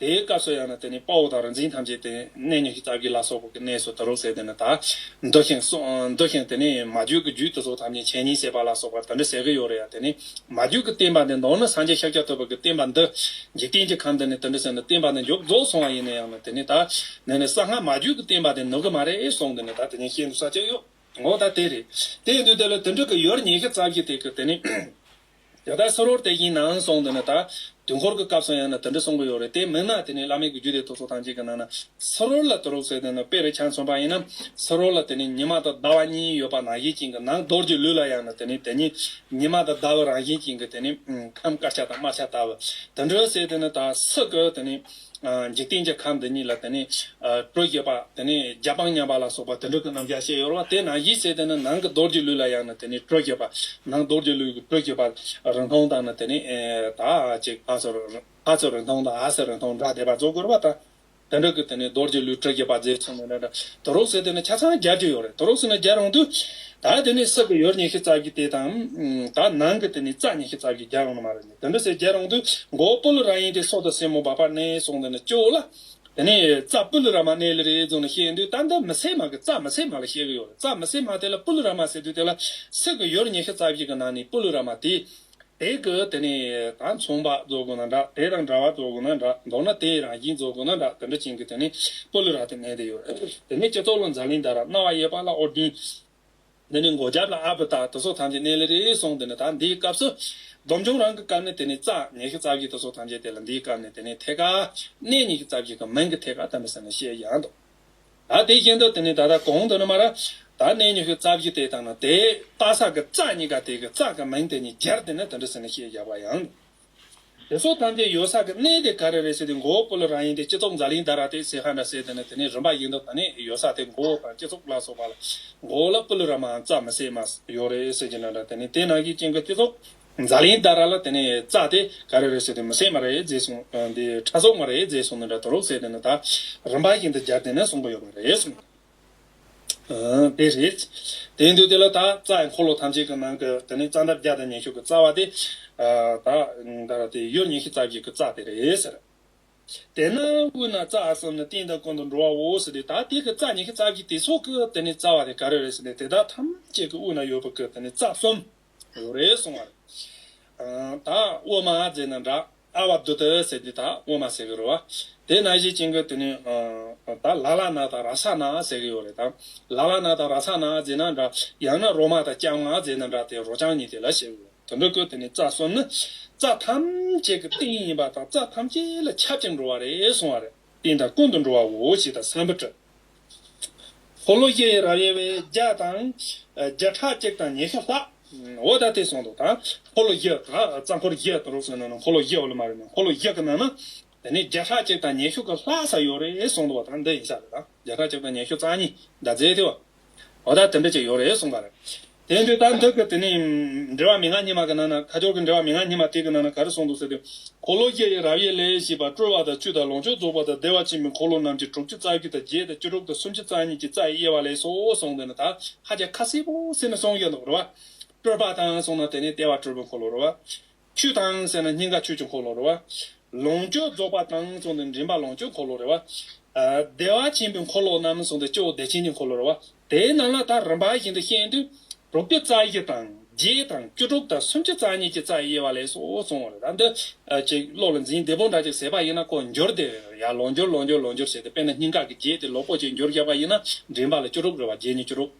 དེའི་སྐབས་སུ་ཡང་ན་དེ་ནི་དཔའ་བོ་དང་རིག་འཛིན་ཐམས་ཅད་དེ་གནས་ཉོན་ཅིག་སྟག་གི་ལ་སོགས་པོ་གི་གནས་སུ་དུ་རུ་ཟེར་དེ་ནི་ད་འདོད་ཞིང་གསུངས་འདོད་ཞིང་དེ་ནི་མ་རྒྱུད་ཀྱི་རྒྱུད་དེ་ཚོ་ཐམས་ཅད་མཆན་ཉིད་བྱེད་པ་ལ་སོགས་པ་དེ་འདྲ་ཟེར་གྱི་ཡོད་རེད་ཡ་དེ་ནི་མ་རྒྱུད་ཀྱི་བསྟན་པ་འདི་མདོར་ན་སངས་རྒྱས་ཤཱཀྱ་ཐུབ་པ་ཀྱི་བསྟན་པ་འདི་འཇིག་རྟེན་གྱི་ཁམས་འདི་ནི་དེ་འདྲ་ཟེར་ན་བསྟན་པ་འདི་མགྱོགས་རྫོགས་སོང་བ་ཡིན་ནའི་ཡང་ན་དེ་ནི་ད་ནི་ནི་གསང་སྔགས་མ་རྒྱུད་ཀྱི་བསྟན་པ་དེ་ནུ་གི་མ་རེད་གསུངས་དེ་ནི་ད་དེ་ཉིད་ཤེས་འདུག་ས་ཅི་ཡོད་འོ་ད་དེ་རེད་དེ་འདུག་དེ་ལ་དེ་འདྲ་གི་ཡོད་རེད་ཉེས་ཤེས་རྩ་བཞི་དེ་ཀྱི་དེ་ནི། ཡང་དག་སོར་བོར་བལྟས་ཀྱིན་ནའང་སོང་འདོད་ན་ད། དུས་འཁོར་གྱི་སྐབས་སུ་ཡང་ན་དུ་འདྲི་གསུངས་ཀྱི་ཡོད་རེད་དེ་མིན་ན་དེ་ནི་བླ་མེད་ཀྱི་རྒྱུད་སྡེ་ཐུགས་སྲོག་ཐང་ཅན་གྱི་ནང་ན་སོར་བོར་ལ་དུ་རུག་ཟེར་འདོད་ན་དཔེ་རེ་འཆང་མཚོན་པ་ཡིན་ནམ། སོར་བོར་ལ་དེ་ནི་ཉི་མ་དང་ཟླ་བ་གཉིས་ཡོད་པ་ན་གཞི་བྱིངས་ཀྱི་ནང་རྡོར་གྱི་ལུས་ལ་ཡང་ན་དེ་ནི་དེ་ཉིད་ཉི་མ་དང་ཟླ་བའི་རང་བཞིན་བྱིངས་ཀྱི་དེ་ནི་ཁམས་དཀར་ཆ་དང་དམར་ཆ་དག། དུ་འདྲི་ཟེར་འདོད་ན་ད། སུ་གི་དེ་ནི། འཇིག་རྟེན་གྱི་ཁམས་འདི་ཉིད་ལ་དེ་ནས། སྤྲོས་བཅས་པ་དེ་ནས་རྒྱ་དཔངས་མཉམ་པ་ལ་སོགས་པ་དེ་འདྲ་དུ་རྣམ་གཞག་བཤད་ཡོད་ལ་དེས་ན་གཞི་བྱས་ཏེ་ནི་ནང་གི་རྡོ་རྗེ་ལུས་ལ་ཡང་ནི་དེ་ནས་སྤྲོས་བཅས་པ། ནང་རྡོ་རྗེ་ལུས་ཀྱི་སྤྲོས་བཅས་པ། རིང་ཐུང་དང་ནི་དེ་ནས། དག་ཅིག་ཧ་སོ། ཧ་སོ་རིང་ཐུང་དང་ཧ་སོ་རིང་ཐུང་སྒྲ་བཟླས་པ་རྫོགས་དགོས་པ་དང། དེ་འདྲ་གི་དེ་ནས་རྡོ་རྗེ་ལུས་སྤྲོས་བཅས་པ་རྫས་ཆེན་མོ་འདྲ། དུ་རོ་བྱས་ཏེ་ནི་ཆ་ཚང་བརྒྱད་ཅུ་ཡོད་རེ་དུ་རོ་བྱས་ན་བརྒྱ་རུང་དུ། དག་དེ་ནས་སྲིབ་ཀྱི་ཡོལ་ཉི་ཤུ་རྩ་བཞི་སྟེ་དང། དག་ནང་གི་དེ་ནས་རྩ་ཉི་ཤུ་རྩ་བཞི་བརྒྱ་རུང་ན་མ་རེ། དེ་འདྲ་ཟེར་རྒྱལ་རང་དུ་མགོ་བོ་སྤུ་ལུ་ར་ཡིན་ཏེ་སྲོག་དང་སྲས་མོ་འབར་བར་གནས་སོང་དེ་ནས་སྐྱོ་ལ། དེ་ནས་རྩྭ་སྤུ་ལུ་ར་མ་གནས་ལེ་རེ་རྫོང་ནས་བཤད་དུས་ད་འདི་མི་སྲས་མ་གི་རྩྭ་མི་སྲས་མ་ལ་བཤད་གི་ཡོད་རེད་རྩྭ་མི་སྲས་མ་དེ་ལ་སྤུ་ལུ་ར་མ་ཟེར་དུས་དེ་ལ་སྲིད་གི་ཡོར་ཉི་ཤུ་རྩ་བཞི་གི་ནང་ནས་སྤུ་ལུ་ར་མ་དེ་དེ་གི་དེ་ནས་ད་མཚུངས་པ་རྫོགས་དགོས་ན་འདྲ་དེ་དང་འདྲ་བ་རྫོགས་དགོས་ན་འདྲ་མདོར་ན་དེ་རང་བཞིན་རྫོགས་དགོས་ན་འདྲ་དེ་འདྲ་བྱིན་གི་དེ་ནས་སྤུ་ལུ་ར་དེ་གནས་དེ་ཡོད་རེད་དེ་ནས་སྤྱི་ཚོགས་ལོ་འཛའ་ལིང་དར་ར་རྣ་བ་གཡས་པ་ལ་ཨོ་བདུན། འདི་ནི་མགོ་རྒྱབ་ལ་ཨ་བུ་དག་དེ་ཚོ་ཐམས་ཅད་གནས་ལེ་རེ་སོང་དེ་ནས་ད་འདིའི་སྐབས་སུ། སྡོམ་འབྱུང་རང་གི་སྐབས་ནས་དེ་ནས་རྩ་ངེས་ཀྱི་རྩ་བཞི་དེ་ཚོ་ཐམས་ཅད་དེ་ལ་འདིའི་སྐབས་ནས་དེ་ནས་ཐད་ཀ། གནས་གཉིས་ཀྱི་རྩ་བཞི་གི་མིང་གི་ཐད་ཀ་བསྟན་པ་ཟེར་ནས་བཤད་ཀྱི་ཡང་འདུག་ད་དེ་བཞིན་དུ་དེ་ནས་ད་ལྟ་གོང་དུ་ནི་མ་ར། ད་གནས་གཉིས་ཀྱི་རྩ་བཞི་དེ་དང་ནི་དེའི་རྟ་ས་གི་རྩ་གཉིས་ཀ་དེ་གི་རྩ་གི་མིང་དེ་གཉིས་སྦྱར་དེ་ནི་དེ་འདྲ་ཟེར་ནས་བཤད་བཞག་པ་ཡང་འདུག། དེ་སོགས་ཐམས་ཅད་ཡོད་ས་གི་གནས་དེ་ག་རེ་རེད་ཟེར་ཏེ་མགོ་བོ་སྤུ་ལ་རང་ཡིན་ཏེ་སྤྱི་ཚོགས་འཛའ་ལིང་ད་ར་ཏེ་ཟེར་ཧ་འདྲ་ཟེར་དེ་ནི་དེ་ནས་རིམ་པ་ཡིན་དོ་ད་ནི་ཡོད་ས་དེ་མགོ་བོ་དང་སྤྱི་ཚོགས་ལ་སོགས་པ་ལ་མགོ་བོ་ལ་སྤུ་ལུ་ར་མའང་རྩ་མི་ཟེར་མ་ཡོད་རེད་ཟེར་གྱི་འདྲ་འདྲ་དེ་ནི་དེ་ནང་གི་ཅིང་གི་སྤྱི་ཚོགས་འཛའ་ལིང་ད་ར་ལ་དེ་ནི་རྩ་དེ་ག་རེ་རེད་ཟེར་དེ་མི་ཟེར་མ་རེད་རྫས་གསུངས་འདི་ཕྲ་གསོག་མ་རེད་རྫས་གསུངས་འདི་འདྲ་དུ་རོགས་ཟེར་དེ་ནི་ད་རིམ་པ་བཞིན་དུ་སྦྱར་དེ་ནི་གསུངས་པ་ཡོད་པ་རེད་གསུངས། པས་རེད། དེང་དུས་དེ་ལ་དག་རྩ་ཡི་འཁོར་ལོ་ཐམས་ཅད་ཀྱི་ནང་གི་དེ་ནས་རྩ་འདབ་བརྒྱ་དང་ཉི་ཤུ་གི་རྩ་བ་དེ། དག་རྩ་དེ་ཡོད་ཉི་ཤུ་རྩ་བརྒྱད་ཀྱི་རྩ་དེ་རེད་ཟེར། དེས་ན་དབུས་ན་རྩ་ཨ་གསུམ་ནི་སྟེང་དང་ཀུན་དུ་འགྲོ་བའོ་ཟེར་ཏེ་དག་དེ་གི་རྩ་ཉི་ཤུ་རྩ་བརྒྱད་དེ་ཚོགས་ཀྱི་དེ་ནས་རྩ་བ་དེ་ག་རེ་རེད་ཟེར་ནས་དེ་དག་ཐམས་ཅད་ཀྱི་དབུས་ན་ཡོད་པ་ཀྱི་དེ་ནས་རྩ་གསུམ། རོ་རེ་གསུང་བར། དང་དབུ་མ་རྫས་རྣམས་འདྲ། ཨ་བ་དུ་ཏི་ཟེར་འདི་དག་དབུ་མ་ཟེར་གི་རོ། དེ་ན་གཞི་བྱིན་གྱི་དེ་ནི། དང་ལ་ལ་ན་དང་ར་ས་ན་ཟེར་གི་ཡོད་རེད་དམ། ལ་ལ་ན་དང་ར་ས་ན་རྫས་རྣམས་འདྲ། ཡང་ན་རོ་མ་དང་རྐྱང་མ་རྫས་རྣམས་འདྲ་དེ་རོ་རྐྱང་གཉིས་དེ་ལ་ཞེས་གོ། དོན་དུ་ཀུན་དེ་ནི་རྩ་གསུམ་ནི། རྩ་ཐམས་ཅད་ཀྱི་སྟེང་ཡིན་པ་དང་རྩ་ཐམས་ཅད་ལ་ཁྱབ་ཅིང་འགྲོ་བ་རེ་གསུང་བར། སྟེང་དང་ཀུན་དུ་འགྲོ་བའོ་ཞེས་དང་བསམ་པར་བྲི། འཁོར་ལོ་བཞི་ཡི་རབ་དབྱེ་བའི་བརྒྱ་དང། བརྒྱ་ཕྲག་གཅིག་དང་ཉི་ཤུ་ལྷག། འོ་ད་དེ་སོང་དོ་དང། འཁོར་ལོ་བཞི། རྩ་འཁོར་བཞི་དང་རོགས་སུ་ནང་ན་འཁོར་ལོ་བཞི་ཨོ་ལོ་མ་རེད་ནང་འཁོར་ལོ་བཞི་གི་ནང་ན། དེ་ནས་བརྒྱ་ཕྲག་གཅིག་དང་ཉི་ཤུ་གི་ལྷག་ས་ཡོ་རེ་སོང་དོ་བ་དང་འདི་ཡིན་ས་རེད་དང་བརྒྱ་ཕྲག་གཅིག་དང་ཉི་ཤུ་རྩ་གཉིས་ཟླ་ཚེས་ཐེ་བ། བ་དག་དེ་འདྲ་ཅིག་ཡོད་རེད་གསུངས་པ་རེད། དེ་འདྲའི་རྟགས་མཐོ་གི་དེ་ནས་འབྲི་བ་མི་ང་གཉིས་མ་གི་ནང་ན་ཁ་སྦྱོར་གི་འབྲི་བ་མི་ང་གཉིས་མ་དེ་གི་ནང་ན་ག་རེ་གསུངས་འདུག་ཟེར་ཏེ། འཁོར་ལོ་བརྒྱད་ཡི་རབ་ཡེ་ལས་ཞེས་པ་སྤྲུལ་བ་དང་བཅུ་དང་ལོངས་སྤྱོད་རྫོགས་པ་དང་བདེ་བ་ཆེན་པོའི་འཁོར་ལོ་རྣམས་ཀྱི་དྲུག་ཅུ་རྩ་བརྒྱུད་དང་བརྒྱད་དང་བཅུ་དྲུག་དང་སུམ་ཅུ་རྩ་གཉིས་ཀྱི་རྩ་ཡི་དབྱེ་བ་ལས་སོ་གསུངས་འདི་ནི་དག་ཧ་ཅང་ཁ་གསལ་པོ་ཟིན་ནས་གསུངས་ཡོད་འདུག་རེད་བ། སྤྲུལ་པ་དང་གསུངས་ན་དེ་ནས་ལྟེ་བ་སྤྲུལ་པའི་འཁོར་ལོ་རེད་བ། ཆུ་དང་ཟེར་ན་སྙིང་ག་ཆོས་ཀྱི་འཁོར་ལོ་རེད་བ། ལོངས་སྤྱོད་རྫོགས་པ་དང་གསུངས་ཏེ་མགྲིན་པ་ལོངས་སྤྱོད་འཁོར་ལོ་རེད་བ། བདེ་བ་ཆེན་པོའི་འཁོར་ལོ་རྣམས་གསུངས་ཏེ་སྤྱི་བོ་བདེ་ཆེན་གྱི་འཁོར་ལོ་རེད་བ། དེའི་ནང་ལ་དང་རིམ་པ་བཞིན་དུ་ཤེས་དུས་དྲུག་པའི་རྩ་བཞི་དང་བརྒྱད་དང་བཅུ་དྲུག་དང་སུམ་ཅུ་རྩ་གཉིས་ཀྱི་རྩ་ཡི་དབྱེ་བ་ལས་སོ་གསུངས་བ་རེད་ད་འདི་ཅིག་བློ་ལ་འཛིན་བདེ་པོ་འདྲ་ཅིག་ཟེར་བ་ཡིན་ན་ཀོ་འགྱུར་དེ་ཡང་ལོངས་སྦྱོར་ལོངས་སྦྱོར་ལོངས་སྦྱོར་བྱས་ཏེ་དཔེར་ན་སྙིང་ག་གི་བརྒྱད་དེ་ལོ་ཀོ་ཅིག་འགྱུར་བཞག་པ་ཡིན་ན་མགྲིན་པ་ལ་བཅུ་དྲུག་རེད་བ་བརྒྱད་ཉིས་བཅུ་དྲུག།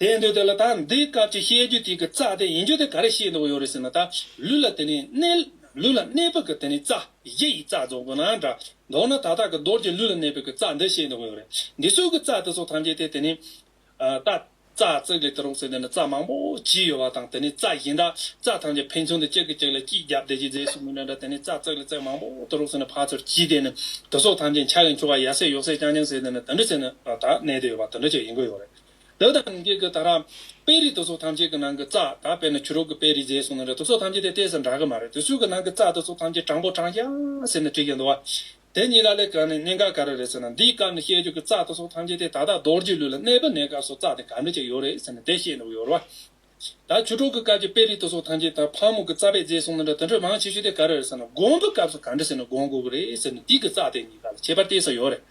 དེ་འདོད་དེ་ལ་ད་འདི་སྐབས་ཀྱི་བཤད་རྒྱུ་དེ་གི་རྩ་དེ་ཡིན་རྒྱུ་དེ་ག་རེ་བཤད་འདོད་ཡོད་རེད་ཟེར་ན་ད་ལུས་ལ་དེ་ནས་གནས་ལུས་ལ་གནས་པོ་གི་དེ་ནས་རྩ་བཞི་ཡི་རྩ་རྫོགས་དགོས་ན་འདྲ་མདོར་ན་ད་ལྟ་གི་རྡོར་གྱི་ལུས་ལ་གནས་པོ་གི་རྩ་འདི་བཤད་འདོད་ཡོད་རེད་འདི་སོགས་ཀྱི་རྩ་དེ་ཚོ་ཐམས་ཅད་དེ་དེ་ནས་ད་རྩ་བརྩེགས་ལས་དེ་རོགས་ཟེར་དེ་ནས་རྩ་མང་པོ་བྱས་ཡོད་པ་དང་དེ་ནས་རྩ་བཞི་འདྲ་རྩ་ཐམས་ཅད་ཕན་ཚུན་དུ་གཅིག་གི་གཅིག་ལ་གཅིག་རྒྱབ་བདེ་གཅིག་རྫས་སུ་མི་འདྲ་འདྲ་དེ་ནས་རྩ་བརྩེགས་ལས་བརྩེགས་མང་པོ་དེ་རོགས་ཟེར་ནས་ཕར་ཚུར་གྱིས་དེ་ནས་དེ་སོགས་ཐམས་ཅད་འཆར་གི་འཁྱུར་བ་ཡ་སེ་ཡོག་སེ་རྐྱང་རྐྱང་ཟེར་དེ་ནས་དེ་འདྲ་ཟེར་ནས་ད་གནས་དེ་ཡོད་པ་དེ་འདྲ་ཅིག་ཡིན་གི་ཡོད་རེད་བདག་དང་རིན་ཆེན་གྱི་དང་རང། དཔེ་རིས་དུག་སོགས་ཐམས་ཅད་ཀྱི་ནང་གི་རྩ། ད་དཔེར་ན་ཆུ་རོལ་གྱི་དཔེ་རིས་རྫས་གསུངས་ན་དུག་སོགས་ཐམས་ཅད་དེ་ལྟས་སུ་འདྲ་གི་མ་རེད་དུག་སོགས་ཀྱི་ནང་གི་རྩ་དུག་སོགས་ཐམས་ཅད་གྲང་པོ་གྲང་ཤང་ཟེར་ནས་བྲིས་ཀྱང་འདུག་བ། དེ་གཉིས་ལ་ལས་གང་ནས་གནད་འགག་ག་རེ་རེད་ཟེར་ན་འདིའི་སྐབས་ནས་བཤད་རྒྱུ་གི་རྩ་དུག་སོགས་ཐམས་ཅད་དེ་ད་ལྟ་རྡོ་རྗེའི་ལུས་ལ་གནས་པ་ནས་སྐབས་སུ་རྩ་དེ་ག་འདྲ་ཅིག་ཡོད་རེད་ཟེར་ནས་དེ་བཤད་འདུག་ཡོད་རེད་བ། ད་ཁྱོད་གྲོགས་ཀྱི་སྐབས་ཀྱི་དཔེ་རིས་དེ་སོགས་ཐམས་ཅད་ད་ཕག་མོ་གི་རྩ་བའི་རྫས་གསུངས་ན་འདྲ་དེ་འདྲ་མང་ཆེ་ཤོས་དེ་ག་རེ་རེད་ཟེར་ན་དགོངས་པའི་སྐབས་སུ་ག་འདྲ་ཟེར་ན་དགོངས་དགོས་ཀྱི་རེད་ཟེར་ནས་དུས་ཀྱི་རྩ་དེ་གཉིས་ཀ་ལ་ཁྱད་པར་དེ་སོགས་ཡོད་རེད།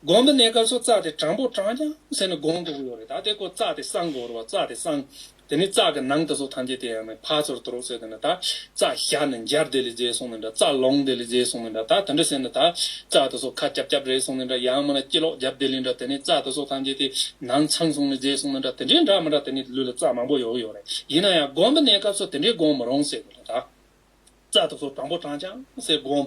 དགོངས་པའི་གནས་སྐབས་སུ་རྩ་དེ་དྲང་པོ་དྲང་རྒྱང་ཟེར་ནས་དགོངས་དགོས་ཀྱི་ཡོད་རེད་ད་དེ་ཀོ་རྩ་དེ་སྲང་གོ་རོ་བ་རྩ་དེ་སྲང། དེ་ནས་རྩ་གི་ནང་དེ་སོགས་ཐམས་ཅད་དེ་ཡང་ནི་ཕག་ཚོར་དུ་རོགས་ཟེར་དེ་ནི་ད་རྩ་བཞག་ནས་འབྱར་དེ་ལས་རྫས་གསུངས་ནས་འདྲ་རྩ་ལོངས་དེ་ལས་རྫས་གསུངས་ནས་འདྲ་ད་དེ་འདྲ་ཟེར་ན་ད་རྩ་དེ་སོགས་ཁ་རྐྱབ་རྐྱབ་རེད་གསུངས་ནས་འདྲ་ཡང་མིན་ན་སྐྱི་ལོག་རྒྱབ་དེ་ལས་འདྲ་དེ་ནས་རྩ་དེ་སོགས་ཐམས་ཅད་དེ་ནང་ཚང་གསུངས་ནས་རྫས་གསུངས་ནས་འདྲ་དེ་འདྲའི་འདྲ་མི་འདྲ་དེ་ནས་ལུས་ལ་རྩ་མང་པོ་ཡོད་གི་ཡོད་རེད་ཡིན་ན་ཡང་སྒོམ་པ་གནས་སྐབས་སུ་དེ་འདྲའི་སྒོམ་མི་རུང་ཟེར་གི་རེད་ད་རྩ་དེ་སོགས་དྲང་པོ་དྲང་ཅང་སེ་སྒོམ།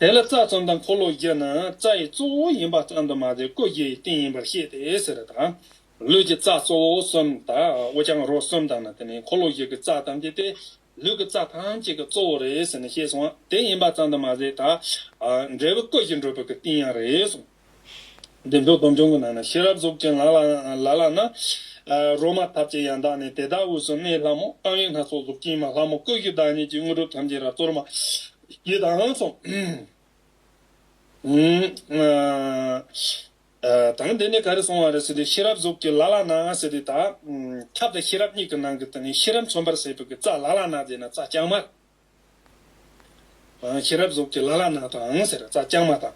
དེ་ལ་རྩ་ཙམ་དང་འཁོར་ལོ་བརྒྱད་ནི་རྩ་ཡི་གཙོ་བོ་ཡིན་པ་ཙམ་དུ་མ་ཟད་སྐུ་བརྒྱད་ཡི་རྟེན་ཡིན་པར་བཤད་དེ་ཟེར་དང། ལུས་ཀྱི་རྩ་གཙོ་བོ་གསུམ་དང་དབུ་རྐྱང་རོ་གསུམ་དང་ནི་དེ་ནས་འཁོར་ལོ་བརྒྱད་ཀྱི་རྩ་ཐམས་ཅད་དེ་ལུས་ཀྱི་རྩ་ཐམས་ཅད་ཀྱི་གཙོ་བོ་རེད་ཟེར་ནས་བཤད་སོང་བ་དེ་ཡིན་པ་ཙམ་དུ་མ་ཟད། འབྲས་བུ་སྐུ་བཞི་འགྲུབ་པའི་རྟེན་ཡང་རེད་གསུངས། བདེ་མཆོག་སྡོམ་འབྱུང་གི་ནང་ན་ཤེས་རབ་གཟུགས་ཅན་ལ་ལ་ན། རོ་མ་ཐབས་ཅན་ཡང་དག་ནི་དེ་དག་དབུས་སུ་གནས་ལྷ་མོ་རྐང་གཡས་སྣ་ཚོགས་གཟུགས་ཀྱིས་མ་ལྷ་མོ་ཀུན་གྱི་བདག་ཉིད་ཀྱི་དངོས་གྲུབ་ཐམས་ཅད་རབ་གཙོར་མ། ཡི་དྭགས་ལྷ་སོགས། དང་འདི་ནི་ག་རེ་སོང་བ་རེད་ཟེར་ཏེ་ཤེས་རབ་གཟུགས་ཀྱི་ལ་ལ་ན་ཟེར་ཏེ་དག། ཁབ་དང་ཤེས་རབ་གཉིས་ཀྱི་ནང་གི་དེ་ནི་ཤེས་རབ་མཚོན་པར་བྱེད་པའི་རྩ་ལ་ལ་ན་དེ་ནི་རྩ་རྐྱང་མར། ཤེས་རབ་གཟུགས་ཀྱི་ལ་ལ་ནག་དང་ཟེར་རྩ་རྐྱང་མ་དང།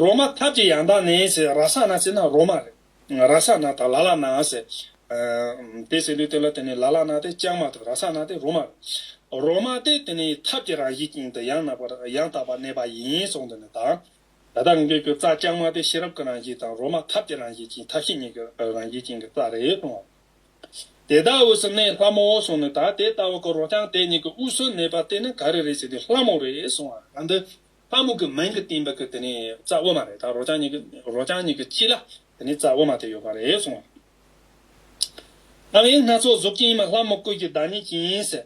རོ་མ་ཐབས་ཀྱི་ཡང་དག་ནི་ཟེར་ར་ས་ན་ཟེར་ན་རོ་མ་རེད། ར་ས་ན་དང་ལ་ལ་ནག་ཟེར། དེ་ཟེར་དུས་དེ་ལ་དེ་ནི་ལ་ལ་ནག་སྟེ་རྐྱང་མ་དང་ར་ས་ནག་སྟེ་རོ་མ་རེད། རོ་མ་སྟེ་དེ་ནི་ཐབས་ཀྱི་རང་བཞིན་ཅན་དུ་ཡང་དག་པར་གནས་པ་ཡིན་གསུངས་འདི་ནི་དང། ད་ལྟར་འགོད་རྒྱུར་རྩ་རྐྱང་མ་སྟེ་ཤེས་རབ་ཀྱི་རང་བཞིན་དང་རོ་མ་ཐབས་ཀྱི་རང་བཞིན་ཅན་ཐབས་ཤེས་གཉིས་ཀྱི་རང་བཞིན་ཅན་གྱི་རྩ་རེད་གསུངས་བ། དེ་དག་དབུས་སུ་གནས་ལྷ་མོའོ་གསུངས་ནས་ད་དེ་ལྟ་བུ་གོ་རོགས་ཀྱང་དེ་གཉིས་ཀྱི་དབུས་སུ་གནས་པ་དེ་ནི་ག་རེ་རེད་ཅེས་དེ་ལྷ་མོ་རེད་གསུངས་བ་ལ་འདི་ལྷ་མོ་གི་མིང་གི་སྟེང་པ་གི་དེ་ནི་རྩ་དབུ་མ་རེད་ད་རོགས་ཀྱང་གཉིས་ཀྱི་རོགས་ཀྱང་གཉིས་ཀྱི་དཀྱིལ་ལ་དེ་ནི་རྩ་དབུ་མ་དེ་ཡོད་པ་རེད་གསུངས་བ་རེད། རྣམ་དབྱེ་སྣ་ཚོགས་གཟུགས་ཀྱིས་ཡིན་མ་ལྷ་མོ་ཀུན་གྱི་བདག་ཉིད་ཀྱིས་ཡིན་ཟེར།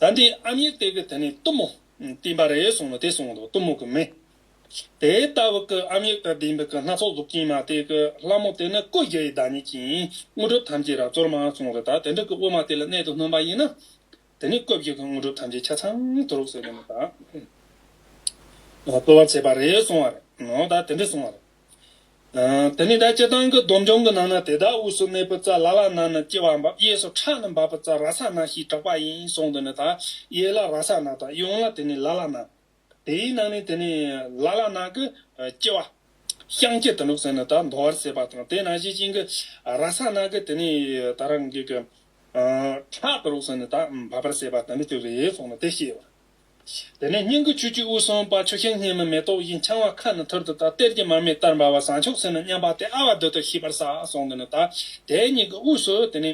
ད་འདི་ཨ་མྱེས་གཏེར་གྱི་དེ་ནས་གཏུམ་མོ་བསྟིམ་པ་རེད་གསུངས་ནས་དེ་གསུངས་འདུག་གཏུམ་མོ་གི་མི་དེ་ལྟ་བུ་གི་ཨ་མྱེས་གཏེར་བསྟིམ་པའི་གི་སྣ་ཚོགས་གཟུགས་ཅན་མ་སྟེ་གི་ལྷ་མོ་དེ་ནི་སྐུ་བརྒྱད་ཡི་བདག་ཉིད་ཅིང་དངོས་གྲུབ་ཐམས་ཅད་རབ་སྩོལ་མ་གསུངས་རེད་ད་དེ་འདྲ་གི་དབུ་མ་དེ་ལ་གནད་དུ་བསྣུན་པ་ཡིན་ན་དེ་ནི་སྐུ་བརྒྱད་གི་དངོས་གྲུབ་ཐམས་ཅད་ཆ་ཚང་དུ་རུབ་ཟེར་ནས་ནི་ད་སྩོལ་བར་བྱེད་པ་རེད་གསུངས་བ་རེད་ནོ་ད་དེ་འདྲ་གསུངས་བ་རེད། དེ་ནས་དགྲ་བྱེད་དང་གི་སྡོམ་འབྱུང་གི་ནང་ན་དེ་དག་དབུས་སུ་གནས་པའི་རྩ་ལ་ལ་ན་ནི་ལྕི་བ་འབབ་གཡས་སུ་ཁྲག་ནི་འབབ་པའི་རྩ་ར་ས་ན་ཞེས་གྲགས་པ་ཡིན་གསུངས་དེ་ནས་དག་གཡས་ལ་ར་ས་ན་དང་གཡོན་ལ་དེ་ནས་ལ་ལ་ན། དེའི་ནང་ནས་དེ་ནས་ལ་ལ་ན་གི་ལྕི་བ། བཤང་གཅི་དུ་འདུག་ཟེར་ནས་དག་མདོ་བར་བསྲེས་པ་དང་དེ་ན་གཞི་བྱིན་གྱི་ར་ས་ན་གི་དེ་ནས་དག་རང་གི་གི། ཁྲག་དུ་རུག་ཟེར་ནས་དག་འབབ་པར་བསྲེས་པ་དེ་འདི་ཅི་རེད་གསུངས་ནས་དེ་བཤད་པར། དེ་ནས་སྙིང་གི་ཆུས་ཆུ་བོ་གསུམ་དཔའ་ཆུ་ཤིང་སྙེ་མ་མེ་ཏོག་བཞིན་འཕྱང་བ་ཁ་ནི་ཐུར་དུ་དག་གཏེར་གྱི་མར་མེ་ལྟར་འབར་བ་ཟངས་ཕྱོགས་སུ་ནི་མཉམ་པ་སྟེ་ཨ་བ་རྡོལ་དུ་ཤིས་པར་བསགས་སོང་དུ་ནི་དག་དེ་གཉིས་ཀྱི་དབུས་སུ་དེ་ནི།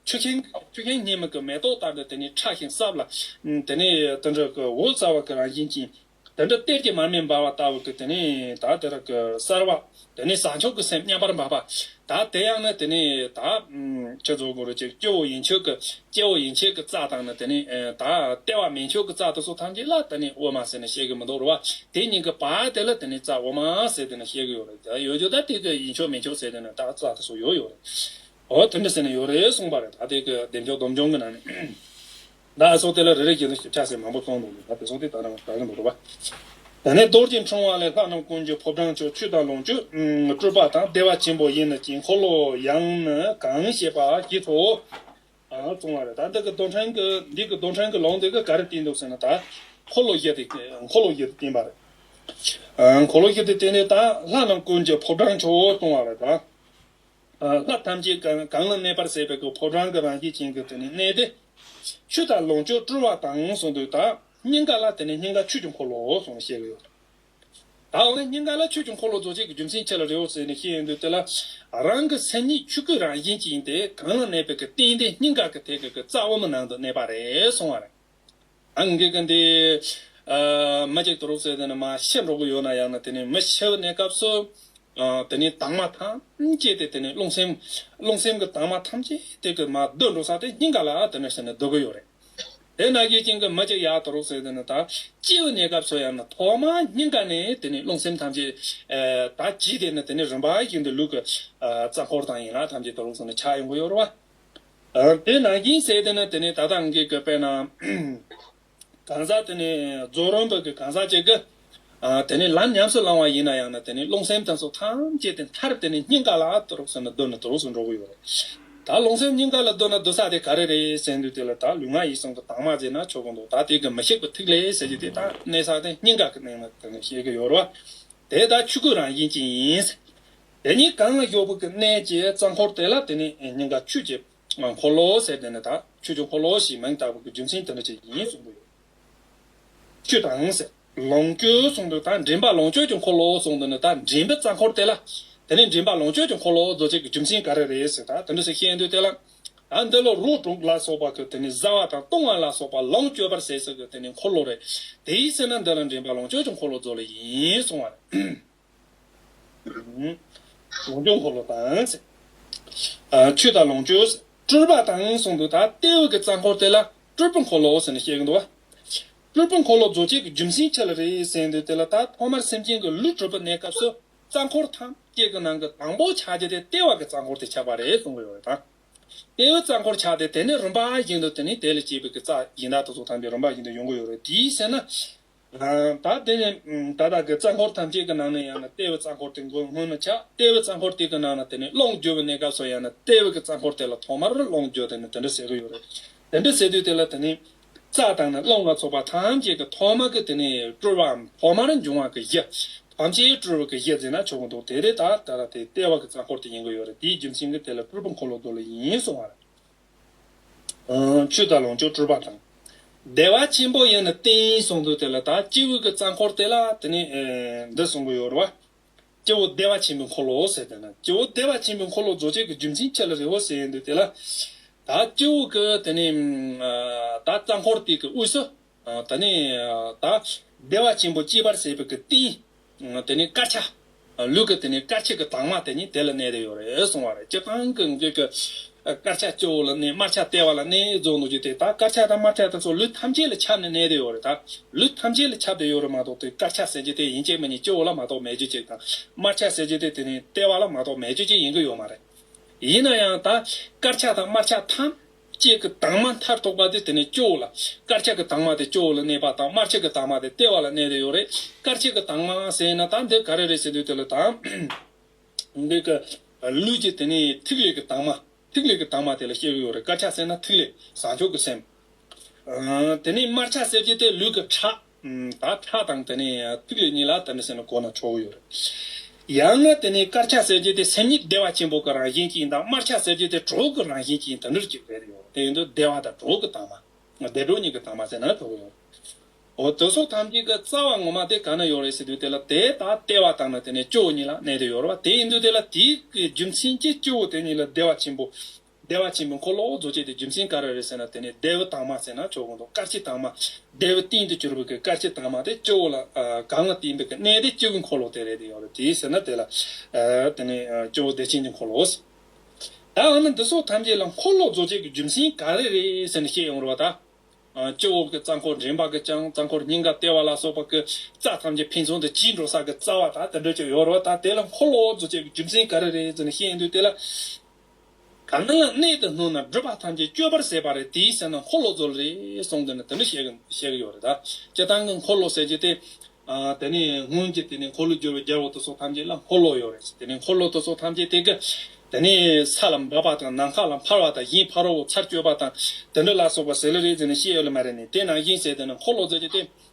ཆུ་ཤིང་ཆུ་ཤིང་སྙེ་མ་གི་མེ་ཏོག་ལྟར་དུ་དེ་ནི་ཕྲ་ཞིང་སྲབ་ལ། དེ་ནི་དུ་འདྲ་གི་འོད་གསལ་བ་གི་རང་བཞིན་ཅན། དུ་འདྲ་གཏེར་གྱི་མར་མེ་འབར་བ་ལྟ་བུ་གི་དེ་ནི་དག་དེ་དག་གི་གསལ་བ། དེ་ནས་བཟང་ཕྱོགས་ཀྱི་སེམས་མཉམ་པར་འབབ་པ། ད་དེ་ཡང་ནི་དེ་ནས་ད། ཁྱོད་ཚོ་གུ་རུ་ཀྱི་སྐྱེ་བོ་ཡིན་ཆོས་ཀྱི་སྐྱེ་བོ་ཡིན་ཆོས་ཀྱི་རྩ་དང་ནི་དེ་ནས་ད། ལྟེ་བ་མིན་ཆོས་ཀྱི་རྩ་དེ་ཚོ་ཐམས་ཅད་ལ་དེ་ནས་དབུ་མ་ཟེར་ནས་བཤད་གི་མི་འདུག་རོ། དེ་གཉིས་ཀྱི་བར་དེ་ལ་དེ་ནས་རྩ་དབུ་མ་ཟེར་དེ་ནས་བཤད་གི་ཡོད་རེད། ད་ཡོད་ཡོད་ད་དེ་གི་ཡིན་ཆོས་མིན་ཆོས་ཟེར་དེ་ནས་ད་རྩ་དེ་ཚོ་ཡོད་ཡོད་རེད། འོ་དེ་འདྲ་ཟེར་ནས་ཡོད་རེད་གསུངས་པ་རེད་ད་དེ་གི་བདེན་ཆོས་སྡོམ་འབྱུང་གི་ནང་ནས། ན་ཨ་སོགས་དེ་ལ་རེ་རེ་བཞིན་དུ་ཞིབ་ཆ་ཟེར་མང་པོ་བཙོང་འདུག་ལ་དེ་སོགས་དེ་ལྟར་རང་གི་མདོག་ལྟ་བ། ད་ནས་རྡོ་རྗེ་འཕྲེང་བ་ལས་ལྷ་རྣམས་ཀུན་གྱི་ཕོ་བྲང་ཕྱོགས་བཅུ་དང་ལོངས་སྤྱོད། སྤྲུལ་པ་དང་བདེ་བ་ཆེན་པོ་ཡིན་ནི་དཀྱིལ་འཁོར་ལོ་ཡང་ནི་གང་ཞེས་པ་ཞེས་སོགས་བཙོང་བ་རེད། ད་འདི་གི་རྡོ་འཕྲེང་གི་འདི་གི་རྡོ་འཕྲེང་གི་ལོངས་དེ་ག་ག་རེ་བསྟན་འདུག་ཟེར་ན་ད། འཁོར་ལོ་བཞི་དེ་འཁོར་ལོ་བཞི་དེ་བསྟན་པ་རེད། འཁོར་ལོ་བཞི་དེ་བསྟན་ནས་ད་ལྷ་རྣམས་ཀུན་གྱི་ཕོ་བྲང་ཕྱོགས་བཙོང་བ་རེད། ལྷ་ཐམས་ཅད་གང་ན་གནས་པར་ཟད་པའི་གི་ཕོ་བྲང་གི་རང་སྐྱེས་ཅན་གྱི་དེ་ནས་གནས་ཏེ། ཆུ་དང་ལོངས་སྤྱོད་བཀྲུ་བ་དང་གསུངས་པའི་དག་སྙིང་ག་ལ་དེ་ནས་སྙིང་ག་ཆོས་ཀྱི་འཁོར་ལོའོ་གསུངས་ནས་བཤད་ཀྱི་ཡོད་དོ། ད་འོ་ན་སྙིང་ག་ལ་ཆོས་ཀྱི་འཁོར་ལོ་རྫོགས་བྱེད་ཀྱི་རྒྱུ་མཚན་ཅི་ལ་རེའོ་ཟེར་ནས་ཤེས་ཡོན་དུ་དེ་ལ། རང་གི་སེམས་ཉིད་ཆུ་སྐུའི་རང་བཞིན་ཅན་ཏེ་གང་ན་གནས་པའི་གི་རྟེན་དེ་སྙིང་ག་གི་དེ་གི་གི་རྩ་བུ་མོ་ནང་དུ་གནས་པ་རེད་གསུངས་བ་རེད། འགེགས། འདི་མ་འགེགས་དུ་རོགས་ཟེར་དེ་ནི་མ་ཤེས་འགྲོ་གི་ཡོད་ན་ཡང་ན་དེ་ནི་མི་ཤེས་པ་ནས་སྐབས་སུ། དེ་ནི་དྭངས་མ་ཐམས་ཅད་དེ་དེ་ནི་རླུང་སེམས། རླུང་སེམས་ཀྱི་དྭངས་མ་ཐམས་ཅད་དེ་ཀྱི་མ་སྡོད་འགྲོ་ས་དེ་སྙིང་ག་ལ་དེ་ནི་ཞེ་ནས་སྡོད་ཀྱི་ཡོད་རེད། དེ་ན་གེགས་ཅན་གྱི་མི་གཅིག་ཡག་དུ་རོགས་ཟེར་དེ་ནི་ད་སྐྱེས་པ་ནས་སྐབས་སུ་ཡང་ན་ཐོག་མ་སྙིང་ག་ནས་དེ་ནི་རླུང་སེམས་ཐམས་ཅད། ད་ཇི་དེ་ནི་དེ་ནི་རིམ་པ་བཞིན་དུ་ལུས་ཀྱི། རྩ་འཁོར་དང་ཡན་ལག་ཐམས་ཅད་དུ་རོགས་ཟེར་ནས་ཆགས་ཡོང་གི་ཡོད་རེད་བ། དེ་ནང་སྐྱིན་སེ་དེ་ནི་དེ་ནས་ད་ལྟ་འགའི་གི་པད་ནང་གང་ཟག་དེ་ནི་རྫོགས་རིམ་པ་གི་གང་ཟག་ཅིག་གི། དེ་ནི་ལམ་ཉམས་སུ་བླང་བ་ཡིན་ན་ཡང་ན་དེ་ནི་རླུང་སེམས་དང་སོགས་ཐམས་ཅད་དེ་མཐར་དེ་ནི་སྙིང་ག་ལ་དུ་རོགས་ཟེར་ན་སྡོད་ན་དུ་རོགས་སུ་འགྲོ་གི་ཡོད་རེད། ད་རླུང་སེམས་སྙིང་ག་ལ་སྡོད་ན་སྡོད་ས་དེ་ག་རེ་རེད་ཟེར་འདུག་དེ་ལ་ད་ལུས་ངག་ཡིད་གསུམ་གི་དྭངས་མ་བརྫེས་ན་ཆོག་གི་འདུག་ད་དེ་གི་མི་ཤིགས་པ་ཐིག་ལེ་ཟེར་གྱི་དེ་དག་གནས་ས་དེ་སྙིང་ག་གི་གནས་ན་དེ་ནི་བཤད་གི་ཡོད་རེད། དེ་ལྟར་ཆོས་སྐུ་རང་བཞིན་ཅན་ཡིན། དེ་ཉིད་གང་ལ་ཤོག་བུ་ཀུན་གནས་ཀྱི་རྩ་འཁོར་དེ་ལ་དེ་ནི་སྙིང་ག་ཆུ་ཀྱི་འཁོར་ལོ་ཟེར་དེ་ནི་དག་ཆུ་ཀྱི་འཁོར་ལོ་ཞེས་མིང་བཏགས་པའི་རྒྱུ་མཚན་དེ་འདྲ་ཅིག་ཡིན་གསུངས་པ་ཡོད། ཆུ་དང་ཟེར། ལོངས་སྤྱོད་གསུངས་དོན་དག་མགྲིན་པ་ལོངས་སྤྱོད་ཀྱི་འཁོར་ལོ་གསུངས་དོན་ནི་དག་མགྲིན་པའི་རྩ་འཁོར་དེ་ལ་དེ་ནི་མགྲིན་པ་ལོངས་སྤྱོད་ཀྱི་འཁོར་ལོ་རྫོགས་བྱེད་ཀྱི་རྒྱུ་མཚན་ག་རེ་རེད་ཟེར་དག་དེ་འདྲ་ཞིག་ཤེས་འདོད་དེ་ལ། དག་འདི་ལ་རོ་དྲུག་ལ་སོགས་པ་ཀུན་དེ་ནི་བཟའ་བ་དང་བཏུང་བ་ལ་སོགས་པ་ལོངས་སྤྱོད་པར་ཟད་ཟེར་ཀུན་དེ་ནི་འཁོར་ལོ་རེད། དེའི་ཚེ་ན་འདི་ལ་མགྲིན་པ་ལོངས་སྤྱོད་ཀྱི་འཁོར་ལོ་རྫོགས་ལ་ཡིན་གསུངས་བ་རེད། གཟུངས་སྐྱོང་འཁོར་ལོ་དང། ཆོས་དང་ལོངས་སྤྱོད། སྤྲུལ་པ་དང་གསུང་དུ་དག་ལྟེ་འོད་ཀྱི་རྩ་འཁོར་དེ་ལ་སྤྲུལ་པའི་འཁོར་ལོ་ཟེར་ནས་བཤད་གི་འདུག་བ། སྤྲུལ་པའི་འཁོར་ལོ་རྫོགས་བྱེད་ཀྱི་རྒྱུ་མཚན་ཆེ་ལ་རེ་ཟན་འདུག་དེ་ལ་ད་ཐོག་མར་སེམས་ཅན་གྱི་ལུས་གྲུབ་པའི་གནས་སྐབས་སུ་རྩ་འཁོར་ཐམས་ཅད་ཀྱི་ནང་གི་དང་པོ་ཆགས་རྒྱུ་དེ་ལྟེ་བ་གི་རྩ་འཁོར་དེ་ཆགས་པ་རེད་གསུངས་གི་ཡོད་དང། ལྟེ་འོད་རྩ་འཁོར་ཆགས་ཏེ་དེ་ནས་རུམ་པ་བཞི་འདུག་དེ་ནི་དེ་ལས་སྐྱེས་པའི་གི་རྩ་ཡིན་དག་ཏུ་སོགས་དམ་པའི་རུམ་པ་བཞི་འདུག་ཡོང་གི་ཡོད་རེད་དེའི་ཚེ་ན། ད་དེ་ནས་ད་བདག་གི་རྩ་འཁོར་ཐམས་ཅད་ཀྱི་ནང་ནས་ཡང་ན་ལྟེ་བའི་རྩ་འཁོར་དེ་མགོན་སྔོན་ནས་ཆགས་ལྟེ་བའི་རྩ་འཁོར་དེ་གི་ནང་ན་དེ་ནས་གློག་འགྱུ་བའི་གནས་སྐབས་སུ་ཡང་ན་ལྟེ་བའི་གི་རྩ་འཁོར་དེ་ལ་ཐོག་མར་གློག་འགྱུ་དེ་ནི་དེ་འདྲ་ཟེར་གྱི་ཡོད་རེད། དེ་འདྲ་ཟེར་དུས་དེ་ལ་དེ་ནི་རྩ་དང་ནི་གློག་ལ་སོགས་པ་ཐམས་ཅད་ཀྱི་ཐོག་མ་གི་དེ་ནི་སྤྲོས་པའམ་ཐོག་མར་འབྱུང་བ་གི་གཞི། ཐམས་ཅད་སྤྲོས་པ་གི་གཞི་ཟེར་ན་ཆོག་གི་འདུག་དེ་དེ་ད་ད་ལྟ་དེ་ལྟེ་བ་གི་རྩ་འཁོར་དེ་ཡིན་གྱི་ཡོད་རེད་དེའི་རྒྱུ་མཚན་གྱི་དེ་ལ་སྤྲོས་པ་འཁོར་ལོ་དོ་ལ་ཡིན་གསུང་བ་རེད། ཆོས་དང་ལོངས་སྤྱོད་སྤྲུལ་པ་དང། བདེ་བ་ཆེན་པོ་ཡང་ན་རྟེན་ཡིན་གསུངས་འདུག་དེ་ལ་དང་སྐྱེས་བུ་གྱི་རྩ་འཁོར་དེ་ལ་དེ་ནས་འདི་གསུངས་པ་ཡོད་རེད་བ། སྐྱེ་བོ་བདེ་བ་ཆེན་པོའི་འཁོར་ལོ་ཟེར་དེ་ན་སྐྱེ་བོ་བདེ་བ་ཆེན་པོའི་འཁོར་ལོ་རྫོགས་བྱེད་ཀྱི་རྒྱུ་མཚན་ཁྱེད་ལ་རེ་བོ་ཟེར་ཡོད་འདུག་དེ་ལ་དང་སྐྱེས་བུ་གྱི་དེ་ནས་དང་རྩ་འཁོར་དེ་གྱི་དབུས་སུ། དེ་ནས་དང། བདེ་བ་ཆེན་པོ་སྐྱེས་པར་བྱེད་པའི་གི་ཏིང། དེ་ནི་དཀར་ཆ། ལུག་གི་དེ་ནི་དཀར་ཆའི་གི་དྭངས་མ་དེ་ནི་དེ་ལ་གནས་དེ་ཡོད་རེད་གསུངས་བ་རེད་སྤྱིར་བཏང་གི་འགྱུར་གྱི། དཀར་ཆ་སྐྱོ་བོ་ལ་གནས་དམར་ཆ་ལྟེ་བ་ལ་གནས་རྫོགས་འདུག་ཅེས་དེ་ལྟར་དཀར་ཆ་དང་དམར་ཆ་དང་སོགས་ལུས་ཐམས་ཅད་ལ་ཁྱབ་ནས་གནས་དེ་ཡོད་རེད་ད། ལུས་ཐམས་ཅད་ལ་ཁྱབ་དེ་ཡོད་རེད་མ་གཏོགས་དེ་དཀར་ཆ་ཟེར་གྱི་དེ་ཡིན་གྱི་མིན་གྱི་སྐྱོ་བོ་ལ་མ་གཏོགས་མེད་རྒྱུ་གཅིག་དང། དམར་ཆ་ཟེར་གྱི་དེ་དེ་ནི་ལྟེ་བ་ལ་མ་གཏོགས་མེད་རྒྱུ་གཅིག་ཡིན་གྱི་ཡོད་མ་རེད། ཡིན་ན་ཡང་ད། དཀར་ཆ་དང་དམར་ཆ་ཐམས། ལྕེ་གི་དྭངས་མ་མཐར་ཐུག་པ་དེ་དེ་ནས་སྐྱོ་བོ་ལ། དཀར་ཆ་གི་དྭངས་མ་དེ་སྐྱོ་བོ་ལ་གནས་པ་དང་དམར་ཆ་གི་དྭངས་མ་དེ་ལྟེ་བ་ལ་གནས་དེ་ཡོད་རེད། དཀར་ཆ་གི་དྭངས་མའང་གསལ་ཡིན་ན་ད་འདིར་ག་རེ་རེད་ཟེར་དུས་དེ་ལ་དྭངས། འདི་ག་ལུས་ཀྱི་དེ་ནི་ཐིག་ལེ་གི་དྭངས་མ། ཐིག་ལེ་གི་དྭངས་མ་དེ་ལ་སྐྱེ་གི་ཡོད་རེད་དཀར་ཆ་གསལ་ན་ཐིག་ལེ། བཟང་ཕྱོགས་ཀྱི་སེམས། དེ་ནས་དམར་ཆ་གསལ་རྗེས་དེ་ལུས་ཀྱི་ཁྲག། ད་ཁྲག་དང་དེ་ནས་ཐིག་ལེ་གཉིས་ལ་དེ་འདྲ་ཟེར་ན་གོ་ན་ཆོག་གི་ཡོད་རེད། ཡང་ན་དེ་ནས་དཀར་ཆ་ཟེར་རྒྱུ་དེ་སེམས་ཉིད་བདེ་བ་ཆེན་པོ་གི་རང་བཞིན་གྱིས་ཡིན་དང་དམར་ཆ་ཟེར་རྒྱུ་དེ་གྲོགས་ཀྱི་རང་བཞིན་གྱིས་ཡིན་དེ་འདྲར་གྱུར་པའི་རེད་ཡོད་རེད་དེ་ཡིན་དུས་བདེ་བ་དང་གྲོགས་ཀྱི་དྭངས་མ། བདེ་གྲོགས་གཉིས་ཀྱི་དྭངས་མ་ཟེར་ན་ཆོག་གི་ཡོད་རེད། འོ་དེ་སོགས་ཐམས་ཅད་ཀྱི་རྩ་བ་ངོ་མ་དེ་གང་ན་ཡོད་རེད་ཟེར་དུས་དེ་ལ་དེ་དག་ལྟེ་བ་དང་ནི་དེ་ནས་སྐྱེ་བོ་གཉིས་ལ་གནས་དེ་ཡོད་རེད་བ་དེ་ཡིན་དུས་དེ་ལ་དེའི་རྒྱུ་མཚན་གྱིས་སྐྱེ་བོ་དེ་གཉིས་ལ་བདེ་བ་ཆེན་པོ་བདེ་བ་ཆེན་པོའི་འཁོར་ལོའོ་རྫོགས་བྱེད་དེ་རྒྱུ་མཚན་ག་རེ་རེད་ཟེར་ན་དེ་ནི་བདེ་བའི་དྭངས་མ་ཟེར་ན་ཆོག་གོ་འདུག་སྐར་ཆའི་དྭངས་མ། བདེ་བའི་སྟེང་དུ་གྱུར་པའི་སྐར་ཆའི་དྭངས་མ་དེ་སྤྱི་བོ་ལ་གང་ལ་བསྟིམ་པའི་གནས་དེ་སྤྱི་བོའི་འཁོར་ལོ་དེ་རེད་དེ་ཡོད་རེད་དེའི་ཟེར་ན་དེ་ལ་དེ་ནི་སྤྱི་བོ་བདེ་ཆེན་གྱི་འཁོར་ལོའོ་ཟེར། ད་འོ་ན་འདི་སོགས་ཐམས་ཅད་ལ་འཁོར་ལོ་རྫོགས་བྱེད་ཀྱི་རྒྱུ་མཚན་ག་རེ་རེད་ཟེར་ནས་བཤད་ཡོང་རོགས་ད། སྤྱི་བོ་གི་རྩ་འཁོར་འདྲེན་པ་གི་ཀྱང་རྩ་འཁོར་སྙིང་ག་ལྟེ་བ་ལ་སོགས་པ་གི་རྩ་ཐམས་ཅད་ཕན་ཚུན་དུ་གཅིག་འགྲོ་ས་གི་རྩ་བ་ད་དེ་འདྲ་ཅིག་ཡོད་རོགས་ད་དེ་ལ་འཁོར་ལོ་རྫོགས་བྱེད་ཀྱི་རྒྱུ་མཚན་ག་རེ་རེད་ཟེར་ནས་བཤད་འདུག་དེ་ལ། གང་ན་ཡང་གནས་དེར་སྣུར་ན་སྒྲུབ་པ་ཐམས་ཅད་སྐྱོ་བར་ཟད་པ་རེད་དེའི་སེམས་ན་འཁོར་ལོ་རྫོགས་རེད་གསུངས་དེ་ནི་དེ་འདྲ་བཤད་གི་བཤད་གི་ཡོད་རེད་ད། སྤྱི་བཏང་གི་འཁོར་ལོ་ཟེར་གྱི་དེ། དེ་ནས་སྔོན་གྱི་དེ་ནས་འཁོར་ལོས་བསྒྱུར་བའི་རྒྱལ་པོ་དེ་ཚོ་ཐམས་ཅད་ལ་འཁོར་ལོ་ཡོད་རེད་དེ་ནས་འཁོར་ལོ་དེ་ཚོ་ཐམས་ཅད་དེ་གི། དེ་ནས་ས་ལ་འབབ་པ་དང་ནམ་མཁའ་ལ་འཕར་བ་དང་གཞན་ཕ་རོལ་བོ་ཚར་གཅོད་པ་དང་དེ་འདྲ་ལ་སོགས་པ་ཟེར་ལེ་རེད་ཟེར་ནས་བཤད་ཡོད་ལ་མ་རེད་ནས་དེ་ནང་བཞིན་ཟེར་དེ་ནི་འཁོར་ལོ་ཟེར་གྱི་དེ།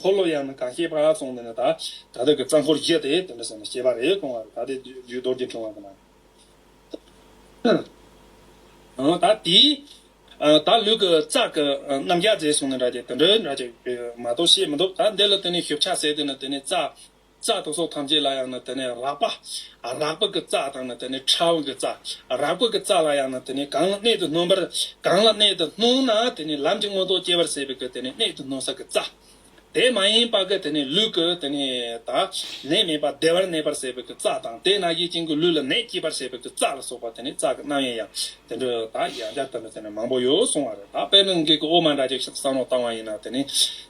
འཁོར་ལོ་ཡང་ན་དགའ་སྐྱེད་པ་སོང་དེ་ནས་ད་ད་ལྟ་གི་རྩ་འཁོར་བརྒྱད་དེ་དེ་འདྲ་ཟེར་ན་སྐྱེད་པ་རེད་གོང་བར་ད་དེ་རྒྱུད་རྡོར་གྱིས་འཁྲུངས་བ་དེ་ན། ད་དེའི་ད་ལུས་ཀྱི་རྩ་ཀྱི་རྣམ་རྒྱ་མཛེས་སོང་དེ་འདྲ་སྐྱེད་དེ་འདྲ་འདྲ་སྐྱེད་མ་གཏོགས་ཤེས་མི་འདུག་ད་འདི་ལ་དེ་ནས་ཞིབ་ཆ་ཟེར་དེ་ནས་དེ་ནས་རྩ་རྩ་དང་སྲོག་ཐམས་ཅད་ལ་ཡང་ནི་དེ་ནས་རགས་པ། རགས་པ་གི་རྩ་དང་ནི་དེ་ནས་ཕྲ་བ་གི་རྩ། རགས་པ་གི་རྩ་ལ་ཡང་ནི་དེ་ནས་གང་ལ་གནད་དུ་སྣུན་པར། གང་ལ་གནད་དུ་སྣུན་ན་དེ་ནི་ལམ་གྱི་མངོན་རྟོགས་སྐྱེ་བར་བྱེད་པའི་གི་དེ་ནས་གནད་དུ་སྣུན་ས་གི་རྩ། དེ་མ་ཡིན་པ་གི་དེ་ནས་ལུས་ཀྱི་དེ་ནས་ད་ནད་མེད་པ་བདེ་བར་གནས་པར་བྱེད་པའི་གི་རྩ་དང་དེས་ན་གཞི་བྱིན་གྱི་ལུས་ལ་ནད་སྐྱེད་པར་བྱེད་པའི་གི་རྩ་ལ་སོགས་པ་དེ་ནི་རྩ་གི་རྣམ་དབྱེ་ཡང་དེ་འདྲ་ད་ཡང་བརྒྱ་ལྟར་ནི་དེ་ནི་མང་པོ་ཡོད་གསུང་བ་རེད་ད་དཔེར་ན་འགས་ཀྱི་དབུ་མ་འདྲ་གཅིག་ཤིག་བསམ་བློ་བཏང་བ་ཡིན་ན་དེ་ནི།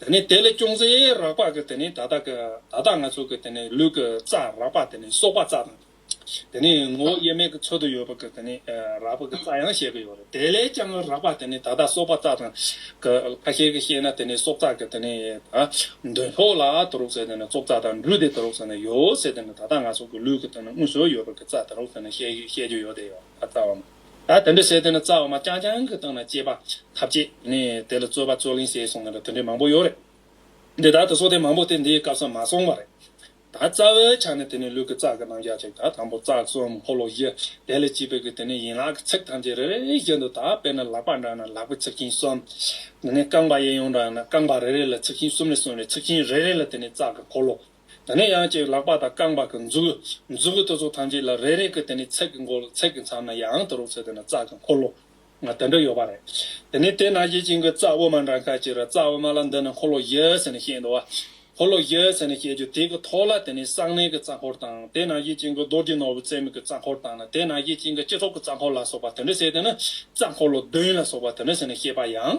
དེ་ནས་དེ་ལས་སྐྱོང་རྩེ་རགས་པ་གི་དེ་ནས་ད་ལྟ་གི་ད་ལྟ་ང་ཚོ་གི་དེ་ནས་ལུས་ཀི་རྩ་རགས་པ་དེ་ནས་སོག་པ་རྩ་དང། དེ་ནས་ངོ་བོ་དབྱེར་མེད་གི་ཚོད་དུ་ཡོད་པ་གི་དེ་ནས་རགས་པ་གི་རྩ་ཡང་བཤད་གི་ཡོད་རེད་དེ་ལས་ཀྱང་རགས་པ་དེ་ནས་ད་ལྟ་སོག་པ་རྩ་དང། གི་ཁ་ཤས་གི་བཤད་ན་དེ་ནས་སོག་རྩ་གི་དེ་ནས་ད་འདོན་ཕོག་ལ་དུ་རུག་ཟེར་དེ་ནས་སོག་རྩ་དང་འབྲུ་དེ་དུ་རུག་ཟེར་ན་ཡོད་ཟེར་དེ་ནས་ད་ལྟ་ང་ཚོ་གི་ལུས་ཀི་དེ་ནས་དངོས་སུ་ཡོད་པ་གི་རྩ་དུ་རུག་ཟེར་ན་བཤད་བཤད་རྒྱུ་ཡོད་དེ་ཡོད་ད་རྩ་བ་མ། ད་དེ་འདྲ་བྱས་དེ་ནི་རྩ་བ་མ་རྐྱང་རྐྱང་གི་སྟེང་ན་སྐྱེས་པ་ཐབས་ཅད་ནས་དེ་ལ་རྩོད་པ་རྩོད་གླེང་བྱས་སོང་ནི་དེ་འདྲའི་མང་པོ་ཡོད་རེད། འདི་དག་ཏུ་སོགས་དེ་མང་པོ་དེ་འདིའི་སྐབས་སུ་མ་སོང་བ་རེད། ད་རྩ་བའི་ཆ་ནས་དེ་ནི་ལུས་ཀྱི་རྩ་གི་རྣམ་གཞག་ཅིག་དང་དང་པོ་རྩ་གསུམ་འཁོར་ལོ་བཞི་དེ་ལས་སྐྱེས་པའི་གི་དེ་ནི་ཡན་ལག་གི་ཚིགས་ཐམས་ཅད་རེ་རེ་བཞིན་དུ་དག་པས་ན་ལག་པ་འདྲ་ན་ལག་པའི་ཚིགས་ཆེན་གསུམ། དེ་ནས་རྐང་པ་གཡས་གཡོན་འདྲ་ན་རྐང་པ་རེ་རེ་ལ་ཚིགས་ཆེན་གསུམ་ལས་གསུམ་རེ་ཚིགས་ཆེན་རེ་རེ་ལ་དེ་ནི་རྩ་གི་འཁོར་ལོ། དེ་ནས་ཡང་ཅིག་ལག་པ་དང་རྐང་པ་གང་འཛུགས། འཛུགས་གི་ཏུ་ཚོགས་ཐམས་ཅད་ལ་རེ་རེ་ཀི་དེ་ནས་ཚེག་གི་མགོ་ལ་ཚེག་གི་མཚམས་ན་ཡང་དུ་རུག་ཚེ་དེ་ན་རྩ་གི་འཁོར་ལོ། ང་དེ་འདྲ་ཡོད་པ་རེད། དེ་ནས་དེ་ན་གཞི་བྱིན་གི་རྩ་དབུ་མ་འདྲ་ཁ་ཅིག་རེད་རྩ་དབུ་མ་ལ་འདི་ནི་འཁོར་ལོ་བཞི་ཟེར་ནས་བཤད་འདུག་བ། འཁོར་ལོ་བཞི་ཟེར་ནས་བཤད་རྒྱུ་དེ་གི་ཐོག་ལ་དེ་ནས་གསང་གནས་ཀི་རྩ་འཁོར་དང་དེ་ན་གཞི་བྱིན་གི་རྡོ་རྗེ་ནོར་བུ་རྩེ་མོ་ཀི་རྩ་འཁོར་དང་ན་དེ་ན་གཞི་བྱིན་གི་སྤྱི་ཚོགས་ཀི་རྩ་འཁོར་ལ་སོགས་པ་དེ་འདྲ་བཤད་དེ་ནི་རྩ་འཁོར་ལོ་བདུན་ལ་སོགས་པ་དེ་འདྲ་ཟེར་ནས་བཤད་པ་ཡང།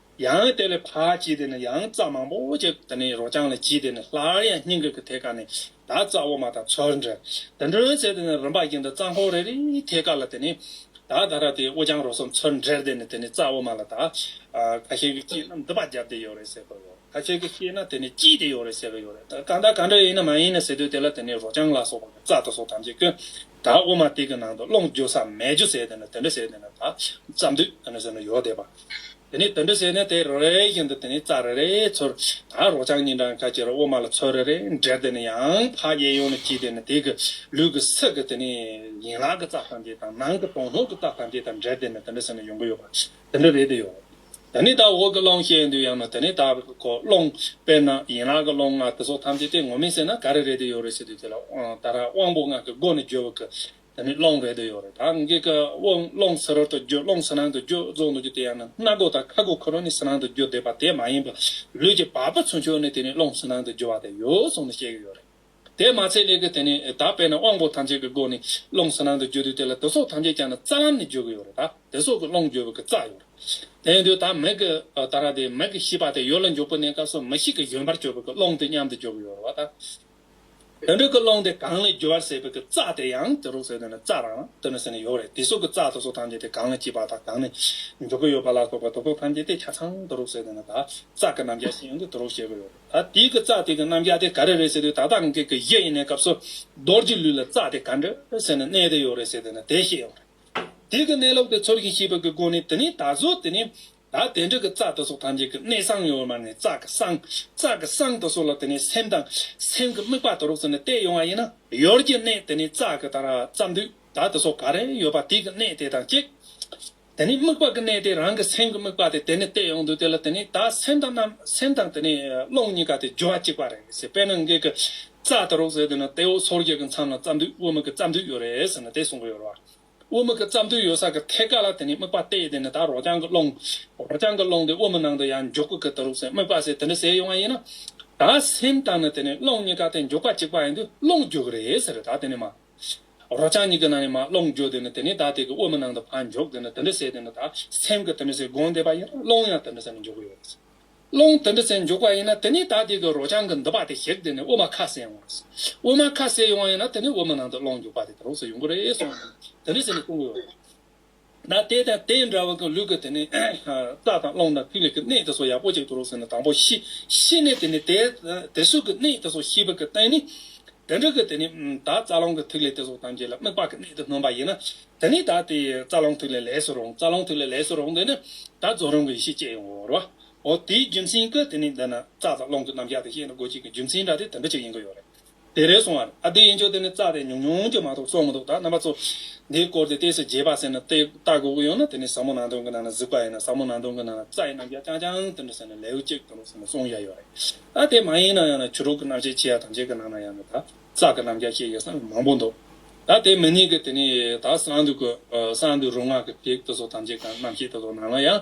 ཡང་དེ་ལས་ཕག་ཅིག་དེ་ནི་ཡང་རྩྭ་མང་པོ་ཅིག་དེ་ནི་རོ་རྐྱང་ལ་བགྱིས་དེ་ནི་སླར་ཡང་སྙིང་གི་གི་ཐེ་ཀ་ནས་བདག་རྩྭ་འོ་མ་དང་ཚོལ་འདྲ་དེ་འགྲོའི་ཚེ་དེ་ནི་རིམ་པ་བགྱིས་འདི་རྩྭ་འཁོར་རེ་རེའི་ཐེ་ཀ་ལ་དེ་ནི་བདག་ད་ར་དེའི་འོ་རྐྱང་རོ་གསུམ་ཚོལ་འདྲེར་དེ་ནི་དེ་ནི་རྩྭ་འོ་མ་ལ་དག་ག་ཤེད་ཀྱི་སྐྱིད་ན་འདི་པ་བརྒྱབ་དེ་ཡོད་རེད་ཟེར་གི་ཡོད་ག་ཤེད་ཀྱི་ཤེད་ན་དེ་ནི་སྐྱིད་དེ་ཡོད་རེད་ཟེར་གི་ཡོད་རེད་གང་དག་གང་འདྲ་ཡིན་ན་མ་ཡིན་ན་ཟེར་དུས་དེ་ལ་དེ་ནི་རོ་རྐྱང་ལ་སོགས་པ་ནི་རྩྭ་དང་སོགས་ཐམས་ཅད་ཀྱི། ད་དབུ་མ་སྟེགས་ཀྱི་ནང་དུ་སློང་རྒྱུ་ས་མེད་རྒྱུ་ཟེར་དེ་ནི་དེ་འདྲ་ཟེར་དེ་ནི་ད་རྩམ་དུས་དེ་ནི་ཟེར་ནི་ཡོག་བསྡད་པ། དེ་ནས་དེ་འདྲ་ཟེར་ནས་དེ་རེ་རེ་བཞིན་དུ་དེ་ནས་རྩ་རེ་རེ་ཚོར་ད་རོག་ཆང་གཉིས་འདྲ་ཁ་ཅིག་རོ་དབུ་མ་ལ་ཚོར་རེ་རེ་འདྲེར་དེ་ནི་ཡང་ཕ་གཡས་ཡོང་ནས་གྱིས་དེ་ནི་དེ་གི་ལུས་ཀྱི་ཚིག་གི་དེ་ནི་ཡན་ལག་གི་རྩ་ཐམས་ཅད་དང་ནང་གི་དོང་སྣོད་ཀྱི་རྩ་ཐམས་ཅད་དང་འདྲེར་དེ་ནི་དེ་འདྲ་ཟེར་ནི་ཡོང་གི་ཡོད་པ་དེ་འདྲ་རེད་དེ་ཡོད། ད་ནི་དྭགས་འོག་གི་ཀློང་བཤད་ཡོན་དུ་ཡང་ན་དེ་ནི་དྭགས་འོག་གི་ཀློང། དཔེར་ན་ཡན་ལག་གི་ཀློང་ལྔ་དེ་སོགས་ཐམས་ཅད་དེ་ངོ་མིན་ཟེར་ན་ག་རེ་རེད་དེ་ཡོད་རེད་ཟེར་དུས་དེ་ལ་ད་ར་དབང་པོ་ལྔ་གི་སྒོ་ནས་བརྗོད་པ་གི་དེ་ནི་ཀློང་རེད་དེ་ཡོད་རེད་ད་འགའི་ཀ་བ་ཀློང་ཟེར་རོ་དང་བརྗོད་ཀློང་ཟེར་ནང་དུ་བརྗོད་རྫོགས་འདུག་ཀྱི་དེ་ཡང་ན་སྣ་སྒོ་དང་ཁ་སྒོ་ཁོ་རང་ནི་ཟེར་ནང་དུ་བརྗོད་བསྡད་པ་དེ་མ་ཡིན་པར་ལུས་ཀྱི་བག་པ་ཚུན་ཆོད་ནས་དེ་ནི་ཀློང་ཟེར་ནང་དུ་བརྗོད་པ་དེ་ཡོད་སོང་ནས་བཤད་ཀྱི་ཡོད་རེད། དེས་མ་ཚད་ལས་ཀྱི་དེ་ནི་ད་བས་ན་དབང་པོ་ཐམས་ཅད་ཀྱི་སྒོ་ནས་རླུང་གཟི་ནང་དུ་བརྗོད་དུས་དེ་ལ་དུག་སོགས་ཐམས་ཅད་ཀྱང་ནི་རྩ་ལམ་ནས་བརྗོད་ཀྱི་ཡོད་རེད་ད་དེ་སོགས་ཀྱི་རླུང་བརྗོད་པའི་རྩ་ཡོད་རེད། དེ་ཡིན་དུས་ད་མིག་གི་ད་ར་དེ་མིག་གི་ཤེས་པ་དེ་ཡོད་ལ་མགྱོགས་པོ་གནས་སྐབས་སུ་མི་ཞིག་གི་བཞོན་པར་སྤྱོད་པའི་ཀྱི་རླུང་དེ་མཉམ་དུ་བརྗོད་ཀྱི་ཡོད་རེད་བ་ད། དེ་འདྲ་ཀྱི་རླུང་དེ་གང་ལས་བརྗོད་པར་ཟད་པའི་ཀྱི་རྩ་དེ་ཡང་དེ་རུ་ཟེར་དུས་ནི་རྩ་རང་དུ་ནི་ཟེར་ནི་ཡོད་རེད་དེ་སོགས་ཀྱི་རྩ་དུག་སོགས་ཐམས་ཅད་དེ་གང་ལས་སྐྱེས་པ་དང་གང་ནས་འཇོག་ཀྱི་ཡོད་པ་ལ་སོགས་པ་དུག་སོགས་ཐམས་ཅད་དེ་ཆ་ཚང་དུ་རུ་ཟེར་དུས་ནི་ད་རྩ་ཀྱི་རྣམ་གཞག་ཤེས་ཡོང་གི་དུ་རུ་བཤད་ཀྱི་ཡོད་རེད། ད་དེའི་གི་རྩ་དེ་གི་རྣམ་རྒྱལ་དེ་ག་རེ་རེད་ཟེར་དུས་ད་ལྟ་ང་གི་གི་གཞི་ཡིན་ནའི་སྐབས་སུ། རྡོར་གྱི་ལུས་ལ་རྩ་དེ་ག་འདྲ་ཟེར་ནས་གནས་དེ་ཡོད་རེད་ཟེར་དེ་ནི་དེ་ཤེས་ཡོང་རེད། དེ་གི་གནས་ལུགས་དེ་ཚོར་ཞིང་ཤེས་པ་གི་སྒོ་ནས་དེ་ནི་ད་གཟོད་དེ་ནི། ད་དེ་འདྲ་གི་རྩ་དེ་སོགས་ཐམས་ཅད་གི་གནས་སངས་ཡོད་མ་ནས་རྩ་གི་སངས། རྩ་གི་སངས་དེ་སོགས་ལ་དེ་ནི་སེམས་དང། སེམས་གི་དམིགས་པ་དེ་རོགས་ཟེར་ནས་བལྟས་ཡོང་བ་ཡིན་ན། ཡོར་གྱི་གནས་དེ་ནི་རྩ་གི་ད་ར་རྩ་མདུད་ད་དེ་སོགས་ག་རེ་ཡོད་པ་དེ་གི་གནས་དེ་དང་གཅིག། དེ་ནི་དམིགས་པ་གི་གནས་ཏེ་རང་གི་སེམས་ཀྱི་དམིགས་པ་དེ་དེ་ནས་བལྟས་ཡོང་དུས་དེ་ལ་དེ་ནི་ད་སེམས་དང་རྣམ་སེམས་དང་དེ་ནས་ཀློང་གཉིས་ཀ་དེ་སྦྱོར་བ་གཅིག་པ་རེད་ཟེར་དཔེར་ན་འགེགས་ཀྱི་རྩ་དེ་རོགས་ཟེར་དུས་ན་དེའི་འོག་སོར་བརྒྱད་ཀྱི་མཚམས་ན་རྩ་མདུད་དབུ་མིག་གི་རྩ་མདུད་ཡོད་རེད་ཟེར་ན་དེ་གསུམ་པོ་ཡོད་རེད་བ། དབུ་མིག་གི་རྩ་མདུད་ཡོད་ས་གི་ཐད་ཀ་ལ་དེ་ནས་དམིགས་པ་བལྟས་དེ་ནི་ད་རོགས་རྐྱང་གི་ཀློང། རོགས་རྐྱང་གི་ཀློང་དེ་དབུ་མི་ནང་དུ་ཡང་འཇོག་གི་གི་དེ་རོགས་ཟེར་དམིགས་པ་ཟེར་དེ་འདྲ་ཟེར་ཡོང་བ་ཡིན་ན། ད་སེམས་དང་ནི་དེ་ནས་ཀློང་གཉིས་ཀ་དེ་འཇོག་པ་གཅིག་པ་ཡིན་དུས་ཀློང་འཇོག་གི་རེད་ཟེར་རེད་ད་དེ་ནས་མ། རོ་རྐྱང་གཉིས་ཀྱི་ནང་ནས་མ་སློང་འཇོག་དེ་ནི་དེ་ནས་བདག་དེ་གི་དབུ་མའི་ནང་དུ་བར་འཇོག་དེ་ནི་དེ་འདྲ་བྱས་དེ་ནི་དག་སེམས་ཀྱི་དེ་འདྲ་བྱས་སྒོང་འདེབས་པ་ཡིན་ན་སློང་ཡང་དེ་འདྲ་བྱས་ནས་འཇོག་གི་ཡོད་རེད། སློང་དེ་འདྲ་བྱས་འཇོག་པ་ཡིན་ན་དེ་ནས་བདག་དེ་གི་རོ་རྐྱང་གི་འདི་པ་དེ་གཤེགས་དེ་ནི་དབུ་མ་ཁ་ཟས་ཡོང་བ་རེད། དབུ་མ་ཁ་ཟས་ཡོང་བ་ཡིན་ན་དེ་ནས་དབུ་མའི་ནང་དུ་སློང་འཇོག་པ་དེ་དེ་རུ་སོགས་ཡོང་གི་རེད་སོགས་དེ་འདྲ་བྱས་ནས་གཏོང་གི་ཡོད་རེད། ན་དེ་དང་དེ་འདྲ་བ་གི་ལུས་ཀྱི་དེ་ནི་རྩ་དང་རླུང་དང་ཐིག་ལེ་ཀྱི་གནས་དེ་སོགས་ཡག་པོ་ཅིག་ཏུ་རོ་ཟེར་ན་དང་པོ་ཤི། ཤི་ནས་དེ་ནི་དེ་སོགས་ཀྱི་གནས་དེ་སོགས་ཤི་བ་ཀྱི་སྟེང་ནི། དེ་འདྲ་གི་དེ་ནི་དག་རྩ་རླུང་གི་ཐིག་ལེ་དེ་སོགས་ཐམས་ཅད་ལ་དམིགས་པ་ཀྱི་གནས་དེ་སྣོན་པ་ཡིན་ན། དེ་ནི་དག་དེ་རྩ་རླུང་ཐིག་ལེ་ལས་སུ་རུང་རྩ་རླུང་ཐིག་ལེ་ལས་སུ་རུང་དེ་ནི་དག་རྫོགས་རིམ་གྱི་ཡེ་ཤེས་སྐྱེ་ཡོང་བར་རོ། འོ་དེའི་རྒྱུ་མཚན་གྱི་དེ་ནི་འདི་ན་རྩ་དང་རླུང་གི་རྣམ་གཞག་དེ་ཤེས་ན་དགོས་ཆེད་ཀྱི་རྒྱུ་མཚན་འདྲ་དེ་དེ་འདྲ་ཅིག་ཡིན་གྱི་ཡོད་རེད། དེ་རེད་སོང་བར་ཨ་བདེ་ཡིན་ཆོག་དེ་ནི་རྩ་རེད་ཉུང་ཉུང་གཅིག་མ་གཏོགས་བཙོག་མི་འདུག་ད་རྣམ་པ་ཚོ། འདིའི་སྐོར་དེ་ལྟས་སུ་རྒྱས་པ་ཟེར་ན་ཏེ་ལྟ་དགོས་ཀྱི་ཡོད་ན་དེ་ནི་ཟབ་མོ་ནང་དོན་གྱི་ནང་ན་གཟིགས་པ་ཡིན་ན་ཟབ་མོ་ནང་དོན་གྱི་ནང་ན་རྩ་ཡི་རྣམ་གཞག་རྐྱང་རྐྱང་དེ་འདྲ་ཟེར་ན་ལེའུ་གཅིག་དང་པོ་ཟེར་ན་གསུངས་ཡ་ཡོད་རེད། ཨ་དེ་མ་ཡིན་ན་ཡང་ན་བྱུ་རུག་གི་རྣམ་བཤད་ཆེ་ཡ་ཐམས་ཅད་ཀྱི་ནང་ན་ཡང་ན་ད་རྩ་གི་རྣམ་གཞག་བཤད་ཡོད་ས་ནི་མང་པོ་འདུག་ད་དེ་མི་གཉིས་ཀྱི་དེ་ནི་ད་གསང་འདུས་སྐུ་གསང་འདུས་རུ་སྔགས་ཀྱི་ཐིག་དེ་ཚོ་ཐམས་ཅད་ཀྱང་རྣམ་བཤད་དེ་ཚོ་ནང་ན་ཡང་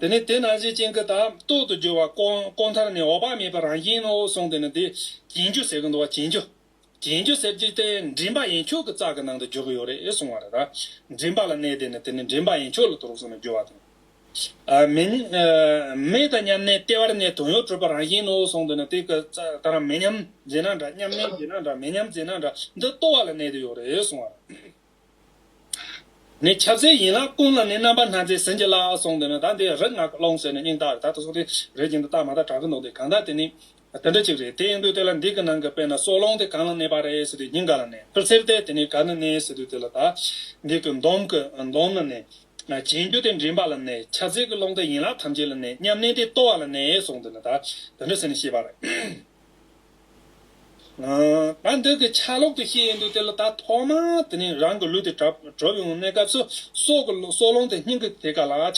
དེ་ནས་དེ་རྣམས་སའི་སྤྱན་གྱི་དང་ཏོག་ཏུ་གྱུར་པ་བསྐོང། མཐར་ནི་འོག་པ་མེད་པའི་རང་བཞིན་ནོ་གསུངས་ཏེ་ནི་དེ་གྱེན་རྒྱུ་ཟེར་གྱི་འདུག་བ་གྱེན་རྒྱུ། གྱེན་རྒྱུ་ཟེར་གྱི་སྟེ་མགྲིན་པ་ཡན་ཆོད་ཀྱི་ཙཀ་གི་ནང་དུ་གྱུར་གྱི་ཡོད་རེད་གསུངས་བ་རེད་ད། མགྲིན་པ་ལ་གནས་ཏེ་ནི་དེ་ནི་མགྲིན་པ་ཡན་ཆོད་ལ་དུར་གསུངས་ནས་རྒྱུ་བ་དང། མེ་དང་མཉམ་གནས་ལྟེ་བར་ནས་དོན་ཡོད་གྲུབ་པ་རང་བཞིན་ནོ་གསུངས་ཏེ་ནི་དེ་གི་ཙཀ་རང་མེ་མཉམ་རྗེས་ན་འདྲ་མཉམ་གནས་རྗེས་ན་འདྲ་མེ་མཉམ་རྗེས་ན་འདྲ་འདི་ལྟོ་བ་ལ་གནས་ཏེ་ཡོད་རེད་གསུངས་བ་རེད། ནི་ཁྱབ་བྱེད་ཡིན་ལ་ཀུན་ལ་ནི་རྣམ་པར་སྣང་མཛད་ཟིན་གྱི་ལ་གསུངས་འདོད་ན་ད་དེ་རིག་སྔགས་ཀློང་ཟེར་ནས་སྙིང་དག་དག་ཏུ་སོང་སྟེ་རེག་ཅིང་དུ་བརྟག་མ་བརྟག་དྲག་ཏུ་འདོགས་ཏེ་གང་དག་དེ་ནི་དེ་འདྲ་ཅིག་རེད་དེ་འདུག་དེ་ལ་འདི་གི་ནང་གི་དཔེར་ན་སྲོག་ལོང་དེ་གང་ལ་གནས་པ་རེད་ཟེར་དུས་སྙིང་ག་ལ་གནས་པར་ཟེར་ཏེ་དེ་ནི་ག་ནི་གནས་ཟེར་དུས་དེ་ལ་དག་འདི་གི་འདོམ་གི་འདོམ་ལ་གནས། བྱིང་རྒྱུ་དེ་མགྲིན་པ་ལ་གནས་ཁྱབ་བྱེད་ཀྱི་ཀློང་དེ་ཡན་ལག་ཐམས་ཅད་ལ་གནས་སྙམ་ནས་དེ་ལྟོ་བ་ལ་གནས་གསུངས་འདོད་ན་ད་དེ་འདྲ་ཟེར་ནས་ཤེས་པར། ད་འདི་གི་ཆ་ལོག་ཏུ་ཤེས་ཡོན་དུ་བསྐྱེད་ལ་ད་ཐོག་མ་དེ་ནས་རང་གི་ལུས་དེ་གྲོལ་བའི་གནས་སྐབས་སུ་སྲོག་གི་སྲོག་རླུང་དེ་སྙིང་གི་དེ་ག་ལ་བྱ།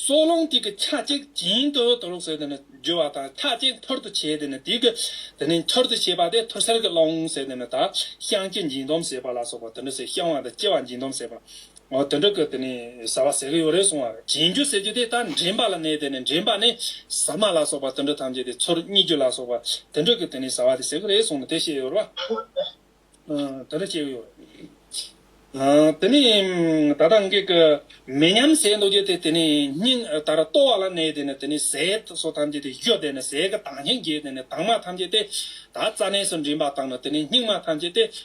སྲོག་རླུང་དེ་གི་ཆ་གཅིག་བྱིན་དུ་དུ་ལོག་ཟེར་དེ་ནི་རྒྱུ་བ་དང་ཆ་གཅིག་འཐོར་དུ་བྱེད་དེ་ནི་དེ་གི་དེ་ནི་འཐོར་དུ་བྱེད་པ་དེ་ཐོར་སེར་གྱི་རླུང་ཟེར་དེ་ནི་ད་བཤང་གཅི་འབྱིན་སྡོམ་ཟེར་པ་ལ་སོགས་པ་དེ་འདི་སེ་བཤང་བ་དང་གཅི་བ་འབྱིན་སྡོམ་ཟེར་པ། ངོ་དེ་འདྲ་གི་དེ་ནི་ཟ་བ་ཟེ་གི་ཡོ་རེ་སོང་བར་བྱིན་རྒྱུ་ཟེར་རྒྱུ་དེ་ད་འདྲེན་པ་ལ་གནས་དེ་ནི་འདྲེན་པ་ནི་ཟ་མ་ལ་སོགས་པ་དེ་འདྲ་ཐམས་ཅད་དེ་ཚོར་རྙེད་རྒྱུ་ལ་སོགས་པ་དེ་འདྲ་གི་དེ་ནི་ཟ་བ་དེ་ཟེ་གི་རེ་སོང་ནི་དེ་བཤད་ཡོ་ར་དེ་འདྲ་བཤད་གི་ཡོ་ར་དེ་ནི་ད་ལྟ་འགས་ཀི་མེ་མཉམ་ཟས་འདོགས་རྒྱུ་དེ་དེ་ནི་སྙིང་དར་ལྟོ་བ་ལ་གནས་དེ་ནི་དེ་ནི་ཟས་སོགས་ཐམས་ཅད་དེ་གཞོ་དེ་ནི་ཟས་གི་དྭངས་ཤིང་རྒྱས་དེ་ནི་དྭངས་མ་ཐམས་ཅད་དེ་ད་རྩ་གནས་སུ་འདྲེན་པ་དང་ནི་དེ་ནི་སྙིགས་མ་ཐམས་ཅད་དེ་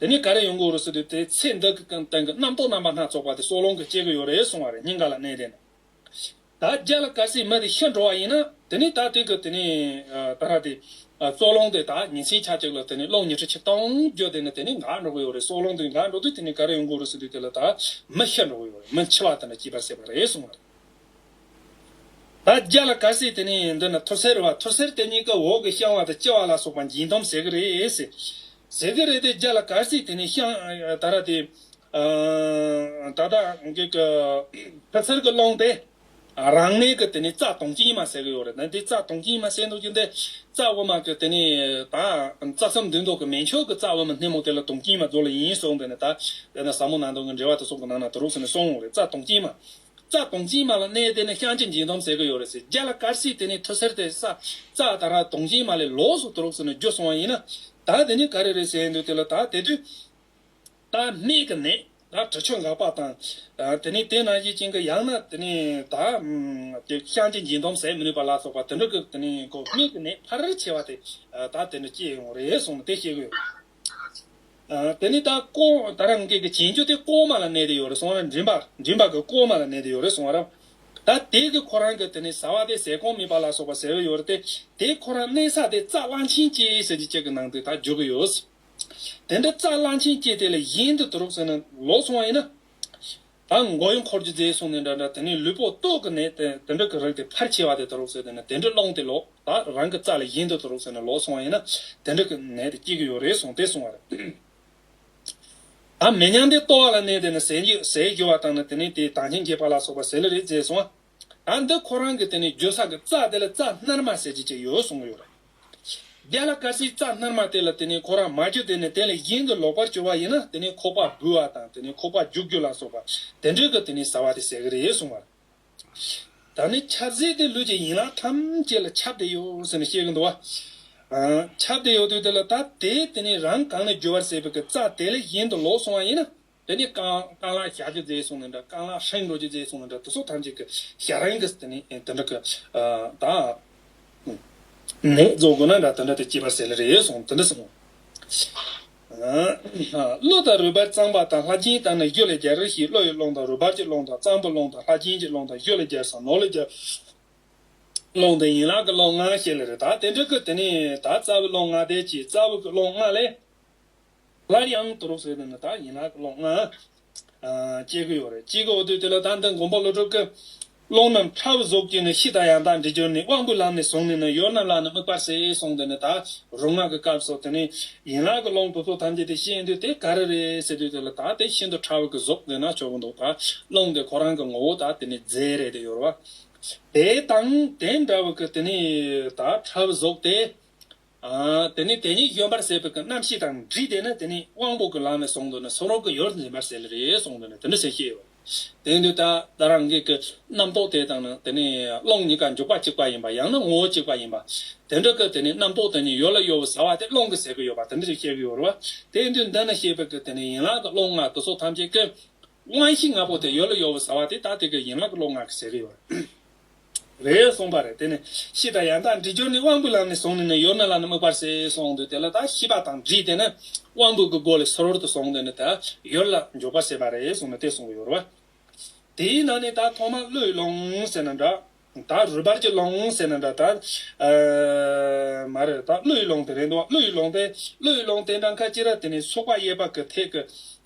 དེ་ནི་ག་རེ་ཡོང་གི་འོ་རུ་སི་དུས་དེ་ཚེ་འདི་གི་སྟེང་གི་རྣམ་རྟོག་རྣམ་པ་སྣ་ཚོགས་པ་དེ་སྲོག་རླུང་གིས་བསྐྱེད་ཀྱི་ཡོད་རེད་གསུང་བ་རེད་སྙིང་ག་ལ་གནས་དེ་ནི། ད་རྒྱ་ལ་ཀ་སིའི་མི་དེ་ཤི་འགྲོ་བ་ཡིན་ན་དེ་ནི་ད་དེ་གི་དེ་ནི་ད་ར་དེ། སྲོག་རླུང་དེ་ད་ཉིན་སྲིང་ཆ་གཅིག་ལ་དེ་ནི་རླུང་ཉི་ཁྲི་ཆིག་སྟོང་བརྒྱུད་དེ་ནི་དེ་ནི་འགག་འགྲོ་གི་ཡོད་རེད་སྲོག་རླུང་དེ་འགག་འགྲོ་དུས་དེ་ནི་ག་རེ་ཡོང་གི་འོ་རུ་སི་དུས་དེ་ལ་ད་མི་ཤི་འགྲོ་གི་ཡོད་རེད་མི་འཆི་བ་དེ་འདྲ་སྐྱིད་པ་སྲིད་པ་རེད་གསུང་བ་རེད། ད་རྒྱ་ལ་ག་སྲིད་དེ་ནས་འདི་ན་ཐུར་སེར་བ་ཐུར་སེར་དེ་གཉིས་ཀ་འོག་གི་བཤང་བ་དང་ལྕི་བ་ལ་སོགས་པ་འགྱིང་སྡོམ་ཟེར་གི་རེད། ཟེར་གི་རེད་དེ་རྒྱ་ལ་ག་སྲིད་དེ་ནས་བཤང། ད་ར་དེ། ད་ལྟ་གི་གི། ཐུར་སེར་གི་ཀློང་དེ། རང་གནས་ཀྱི་དེ་ནས་རྩ་དོང་གཅིག་ཉི་མ་ཟེར་གི་ཡོད་རེད་དེ་རྩ་དོང་གཅིག་ཉི་མ་ཟེར་འདུག་རྒྱུ་འདི་རྩ་དབུ་མ་གི་དེ་ནས་ད་རྩ་མཚམས་འདི་འདུག་གི་མེ་མཆོག་གི་རྩ་དབུ་མ་སྣེ་མོ་དེ་ལ་དོང་གཅིག་ཉི་མ་རྫོགས་ལ་ཡིན་གསུངས་དེ་ནས་ད། ཟབ་མོ་ནང་དོན་གྱི་འགྲེལ་བ་དེ་སོགས་ཀྱི་ནང་ན་དུ་རུག་སོང་ནས་སོང་ངོ་རེད་རྩ་དོང་གཅིག་ཉི་མ། རྩྭ་དོང་རྩིས་མ་ལ་གནས་དེ་ནི་ཤང་ཆེན་འཇིང་དོམ་ཟེར་གི་ཡོད་རེད་ཟེར་རྒྱ་ལ་དཀར་བསིལ་དེ་ནི་ཐུ་སེར་ཏེ་ས་རྩྭ་ད་ར་དོང་རྗིང་མ་ལས་ལོགས་སུ་དུར་ཟེར་ནས་རྒྱུ་སོང་བ་ཡིན་ན་ད་དེ་ནི་ག་རེ་རེད་ཟེར་འདུག་དེ་ལ་ད་དེ་དུས་ད་སྨད་གི་ནས་ད་གྲི་ཆུ་འགག་པ་དང། དེ་ནི་དེ་ནང་བཞིན་བཅིང་གི་ཡང་ན་དེ་ནི་ད་དེ་ཤང་ཆེན་འཇིང་དོམ་ཟེར་མི་ནུས་པ་ལ་སོགས་པ་དེ་འདྲ་གི་དེ་ནི་གོ་སྨད་གི་ནས་ཕར་ཆེ་བ་དེ་ད་དེ་འདྲ་སྐྱེས་ཡོང་རེད་གསུངས་ནས་དེ་བཤད་གི་ཡོད་རེད། དེ་ནས་ད་ཀོང་ད་རང་སྐད་ཀྱི་བྱེད་འགྱུ་དེ་ཀོང་མ་ལ་གནས་དེ་ཡོད་རེད་སོང་ར་མགྲིན་པ་གི་ཀོང་མ་ལ་གནས་དེ་ཡོད་རེད་སོང་ར། ད་དེ་གི་ཁོ་རང་གི་དེ་ནས་ཟ་བ་དེ་ཟས་གོང་མི་པ་ལ་སོགས་པ་ཟེར་བའི་ཡོད་རེད་དེ་དེ་ཁོ་རང་གནས་ས་དེ་རྩ་གླང་ཆེན་སྐྱེ་ཟེར་གྱི་སྐད་ཀྱི་ནང་དེ་ད་འཇོག་གི་ཡོད། དེ་འདྲ་རྩ་གླང་ཆེན་སྐྱེ་དེ་ལ་གཞན་དུ་དུ་རོགས་ཟེར་ན་ལོག་སོང་བ་ཡིན་ན། ད་མགོ་ཡི་འཁོར་གྱི་རྫས་བསྲུང་ནས་འདྲ་འདྲ་དེ་ནས་ལུས་པོ་ལྟོགས་ཀི་ནས་དེ་དེ་འདྲ་གི་རིགས་དེ་ཕར་ཆེ་བ་དེ་དུ་རུག་ཟེར་དེ་ནས་དེ་འདྲ་སློང་དེ་ལོག་ད་རང་གི་རྩ་ལ་གཞན་དུ་དུ་རུག་ཟེར་ནས་ལོག་སོང་བ་ཡིན་ན་དེ་འདྲ་གི་ནད་དེ་སྐྱེ་གི་ཡོད་རེད་གསུང་དེ་སོང་བ་རེད། ད་མེ་མྱང་དེ་ལྟོ་བ་ལ་གནས་དེ་ནས་ཟས་ཟས་རྒྱོ་བ་བཏང་ན་དེ་ནས་དེ་དྭངས་ཤིང་རྒྱས་པ་ལ་སོགས་པ་ཟེར་ལེ་རེད་ཟེར་སོང་བ། ཨ་འདི་ཁོ་རང་གི་དེ་ནས་འགྱོད་ས་གི་རྩ་དེ་ལ་རྩ་སྣར་མ་ཟེར་གྱི་ཅིག་ཡོད་གསུང་གི་ཡོད་རེད། རྒྱ་ལ་སྐར་སིའི་རྩ་སྣར་མ་དེ་ལ་དེ་ནས་ཁོ་རང་མ་གྱོད་དེ་ནས་དེ་ལ་གཞན་གི་ལོག་པར་གྱོད་པ་ཡིན་ན་དེ་ནས་ཁོག་པ་འབུལ་བ་དང་དེ་ནས་ཁོག་པ་རྒྱུག་རྒྱུ་ལ་སོགས་པ་དེ་འདྲའི་གི་དེ་ནས་ཟ་བ་དེ་ཟེར་གི་རེད་གསུང་བར། ད་ནི་ཆབ་སྲིད་དེ་ལུས་ཀྱི་ཡིན་ལག་ཐམས་ཅད་ལ་ཆབ་དེ་ཡོད་ཟེར་ནས་བཤད་གི་འདུག་བ། ཆབ་དེ་ཡོད་དུས་དེ་ལ་ད་དེས་དེ་ནས་རང་གང་ནས་འགྱོད་པར་ཟེར་བའི་གི་རྩ་དེ་ལ་གཞན་དུ་ལོག་སོང་བ་ཡིན་ན་དེ་ནས་རྐང་རྐང་ལག་བཞག་གི་རྫས་སོང་ནས་འདྲ་རྐང་ལག་ཧྲེང་འགྲོ་གི་རྫས་སོང་ནས་འདྲ་དེ་སོགས་ཐམས་ཅད་ཀྱི་ཞག་རེང་གིས་དེ་ནས་དེ་འདྲ་གི། དང། ནད་རྫོགས་དགོས་ན་འདྲ་དེ་འདྲ་དེ་སྐྱེས་པར་ཟད་ལ་རེད་སོང་དེ་འདྲ་སོང། གླུ་དང་རུས་པར་གཙང་པ་དང་ལྷ་སྦྱིན་བཏང་ནས་གཞུ་ལ་སྦྱར་རེ་ཞིག་གླུ་ཡི་ཀློང་དང་རུས་པར་གྱི་ཀློང་དང་གཙང་པོའི་ཀློང་དང་ལྷ་སྦྱིན་གྱི་ཀློང་དང་གཞུ་ལ་སྦྱར་ཟ་ནོར་ལ་སྦྱར། ཀློང་དང་ཡན་ལག་གི་ཀློང་ལྔ་བཤད་ལ་རེད་ད་དེ་འདྲ་གི་དེ་ནས་ད་རྩ་བའི་ཀློང་ལྔ་བཟླས་ཀྱི་རྩ་བའི་ཀློང་ལྔ་ལས། སླར་ཡང་བསྡུ་རུག་བཟོས་འདུག་ན་དག་ཡིན་ལགས་ཀློག་ན་དཔྱད་དགོས་ཡོད་རེད་ཅིག་གོ་འོ་དོད་དེ་ལ་ད་འདི་མགོན་པོ་བློ་གྲོས་ཀྱི། ཀློང་ན་ཁྲ་བོ་བཟོ་བཅུག་ནས་ཤི་དང་ཡང་དག་འདྲི་སྦྱོར་ནི་དབང་པོའི་ལམ་ནས་བཟུང་ནས་ནི་ཡོད་རྣམས་ལ་ནི་དམིགས་པར་ཟེར་གསུངས་འདུག་ན་དག་རུག་ངག་གི་སྐབས་སོགས་དེ་ནི་ཡིན་ལགས་ཀྱི་ཀློང་དུ་སོགས་ཐམས་ཅད་དེ་ཤེས་འདོད་དེ་ག་རེ་རེད་ཟེར་དུས་དེ་ལ་དག་དེ་ཤིན་ཏུ་ཁྲ་བོ་གི་བཟོ་དགོས་ན་ཆོག་གི་འདུག་དག་ཀློང་དེ་ཁོ་རང་གི་ངོ་བོ་དག་དེ་ནི་རྫས་རེད་དེ་ཡོར་བ་དེ་དང་དེ་འདྲ་བ་གི་དེ་ནི་དག་ཁྲ་བོ་བཟོ་དེ་དེ་ནས་དེ་ཉིད་གཞོན་པར་ཟད་པའི་རྣམ་ཤེས་དང་འདྲིས་ཏེ་ནི་དེ་ནི་དབང་པོ་གི་ལམ་ལས་གསུངས་དོན་ནི་སོ་རོག་གི་ཡུལ་འཛིན་པར་ཟད་ལ་རེ་གསུངས་དོན་ནི་དེ་འདྲ་ཞེས་བཤད་ཡོད། དེ་ནི་ད་ལྟ་རང་རྒྱལ་གྱི་རྣམ་རྟོག་དེ་དང་ནི་དེ་ནི་ཀློང་གཉིས་ཀ་འཇུག་པ་གཅིག་པ་ཡིན་པ་ཡང་ན་ངོ་བོ་གཅིག་པ་ཡིན་པ། དེ་འདྲ་གི་དེ་ནི་རྣམ་རྟོག་དེ་ཉིད་ཡོད་ལ་གཡོ་བའི་ཟ་བ་དེ་ཀློང་གིས་ཟད་ཀྱི་ཡོད་པ་དེ་འདྲ་ཞེས་བཤད་ཀྱི་ཡོད་རེད། དེས་དོན་འདི་ནི་ཤེས་པས་ཀྱི་དེ་ནི་ཡན་ལག་གི་ཀློང་ལྔ་དུ་སོགས་ཐམས་ཅད་ཀྱི། དབང་ཤེས་ལྔ་པོ་དེ་ཡོད་ལ་གཡོ་བའི་ཟ་བ་དེ་ད་ལྟའི་ཀྱི་ཡན་ལག་གི་ཀློང་ལྔ་གིས་ཟད་ཀྱི་ཡོད། རེད་གསུངས་པ་རེད་དེ་ནས་ཤི་དང་ཡང་དག་འདྲི་སྦྱོར་ནི་དབང་པོའི་ལམ་ནས་བཟུང་ནས་ནི་ཡོད་མེད་ལ་ནི་དམིགས་པར་སེལ་གསུངས་འོང་དུས་དེ་ལ་ད་ཤི་བ་དང་འདྲིས་དེ་ནི་དབང་པོའི་གི་སྒོ་ལས་ཟོར་དུ་སོང་དུས་ནི་ད་ཡོད་ལ་འཇོག་པར་བྱེད་པ་རེད་གསུངས་ནས་དེ་གསུངས་ཀྱི་ཡོད་རེད་བ། དེའི་ནང་ནས་ད་ཐོག་མར་བློའི་ཀློང་ཟེར་ན་འདྲ། ད་རུས་པར་གྱི་ཀློང་ཟེར་ན་འདྲ་ད། མ་རེད་ད་བློའི་ཀློང་དེ་རེད་འདུག་བ་བློའི་ཀློང་དེ་བློའི་ཀློང་དེ་འདྲ་མཁན་ཅི་ར་དེ་ནས་སོགས་པ་དབྱེ་བ་གི་ཐད་ཀྱི་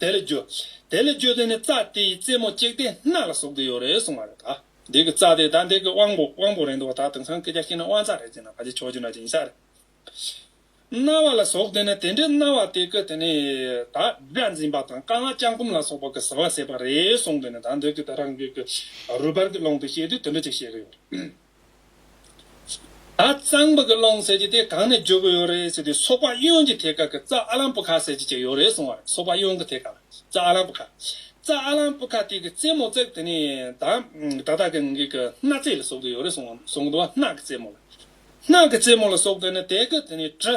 དེ་ལས་བརྗོད། དེ་ལས་བརྗོད་དེ་ནི་རྩ་དེ་ཡི་རྩེ་མོ་གཅིག་སྟེ་སྣ་ལ་ཟུག་དེ་ཡོད་རེད་གསུངས་པ་རེད་ད། འདི་གི་རྩ་དེ་ད་འདི་གི་དབང་པོ་དབང་པོ་རེད་འདུག་བ་ད་དེང་སང་སྐད་ཆ་ཤི་ན་དབང་རྩ་རེད་ཅེ་ན་ག་ཅི་ཆོག་ཅི་འདྲ་ཅི་ཡིན་ས་རེད། རྣ་བ་ལ་ཟུག་དེ་ནི་དེ་འདྲའི་རྣ་བ་དེ་གི་དེ་ནི་ད་སྒྲ་འཛིན་པ་དང་རྐང་ལག་ལྕགས་སྐུམ་ལ་སོགས་པ་གི་ཟེ་བ་ཟེད་པ་རེད་གསུངས་དེ་ནི་ད་འདི་གི་ད་རང་རྒྱུད་གི་རུས་པར་གི་ཀློང་དུ་བཤད་དུས་དེ་འདྲ་ཅིག་བཤད་གི་ཡོད་རེད། ད་གཙང་པོ་གི་སློང་ཟེར་གྱི་དེ་གང་ནས་འཇོག་གི་ཡོད་རེད་ཟེར་དུས་སོག་པ་གཡོན་གྱི་ཐད་ཀ་གི་རྩ་ཨ་ལམ་པུ་ཁ་ཟེར་གྱི་ཅིག་ཡོད་རེད་གསུངས་བ་རེད་སོག་པ་གཡོན་གི་ཐད་ཀ་ལ་རྩ་ཨ་ལམ་པུ་ཁ། རྩ་ཨ་ལམ་པུ་ཁ་དེ་གི་རྩེ་མོ་བརྩེགས་དེ་ནས་ད་ད་ད་གི་གི་སྣ་རྩེ་ལ་ཟུག་གི་ཡོད་རེད་གསུངས་གསུངས་འདུག་བ་སྣག་གི་རྩེ་མོ་ལ་སྣག་གི་རྩེ་མོ་ལ་ཟུག་དེ་ནས་དེ་གི་དེ་ནས་གྲི།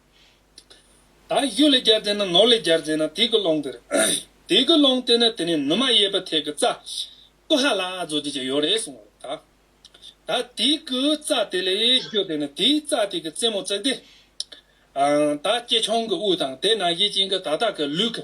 དང། གཡུ་ལས་སྦྱར་རྫས་ནི་ནོར་ལས་སྦྱར་རྫས་ནི་དུས་ཀྱི་ཀློང། དུས་ཀྱི་ཀློང་དེ་ནི་དེ་ནས་ནུ་མ་གཡས་པ་ཐད་ཀྱི་རྩ། ཀུ་ཧ་ལ་ཨ་རྫོགས་བྱེད་ཅིང་ཡོད་རེ་གསུང་བ་དང། ད་དུས་ཀྱི་རྩ་དེ་ལས་གཡོས་དེ་ནི་དུས་རྩ་དེ་ཀྱི་རྩེ་མོ་བརྩེགས་ཏེ། ད་སྐྱེས་ཆུང་གི་དབུས་དང་དེ་ན་གཞི་བྱིན་གྱི་དག་དག་གི་ལུས་ཀྱི་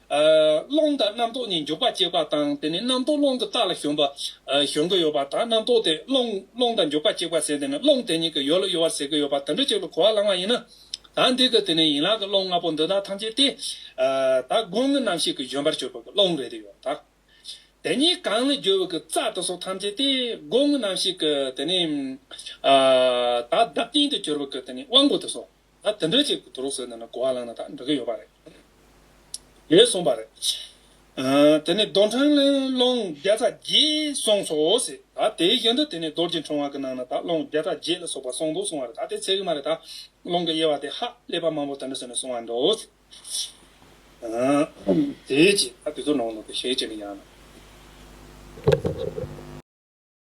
རླུང་དང་རྣམ་རྟོག་གཉིས་འཇུག་པ་བསྐྱེད་པ་དང་དེ་ནས་རྣམ་རྟོག་རླུང་གི་རྟགས་ལ་ཞོན་པ། ཞོན་གྱི་ཡོད་པ་དང་རྣམ་རྟོག་དེ་རླུང་རླུང་དང་འཇུག་པ་བསྐྱེད་པ་ཟད་དེ་ནས་རླུང་དེ་ཉིད་ཀྱི་ཡོད་ལ་གཡོ་བ་ཟད་ཀྱི་ཡོད་པ་དུད་འགྲོ་གཅིག་ལ་གོ་བ་བླང་བ་ཡིན་ན། ད་འདི་ཀྱི་དེ་ནས་ཡན་ལག་གི་རླུང་ལྔ་པོ་འདི་དག་ཐམས་ཅད་དེ། ད་དགུང་གི་རྣམ་ཤེས་ཀྱི་བཞོན་པར་གྱུར་པ་གྱི་རླུང་རེ་རེ་ཡོད་དང། དེ་གཉིས་གང་ལ་རྒྱུ་བའི་གྱི་རྩ་དེ་སོགས་ཐམས་ཅད་དེ་དགུང་གི་རྣམ་ཤེས་ཀྱི་དེ་ནས། ད་བདག་རྐྱེན་དུ་གྱུར་པ་གྱི་དེ་ནས་དབང་པོ་དེ་སོགས། ད་དེ་འདྲ་ཅིག་དུར་ཟོས་ནས་ན་གོ་བ་ལངས་ན་ད་འགྲོ་གི་ཡོད་པ་རེད། ཞེས་གསུངས་པ་རེད། དེ་ནས་རྡོ་འཕྲང་ལན་སློང་བརྒྱ་རྩ་བརྒྱད་སོང་སོ་ཞེས་ད་དེའི་ཞེང་དུ་དེ་ནས་རྡོ་རྗེ་འཕྲེང་བ་གི་ནང་ན་ད་སློང་བརྒྱ་རྩ་བརྒྱད་ལ་སོགས་པ་སོང་འདུག་གསུངས་བ་རེད་ད་དེ་ཚད་གི་མ་རེད་ད་སློང་གི་དབྱེ་བ་དེ་ཧ་ཀླད་པ་མང་པོ་དེ་འདྲ་ཟོས་ནས་སོང་བ་འདྲོ། དེའི་རྗེས་ད་དེ་ཚོ་ནང་ནོ་དེ་ཞེས་བྱས་ནས་ཡང་ན།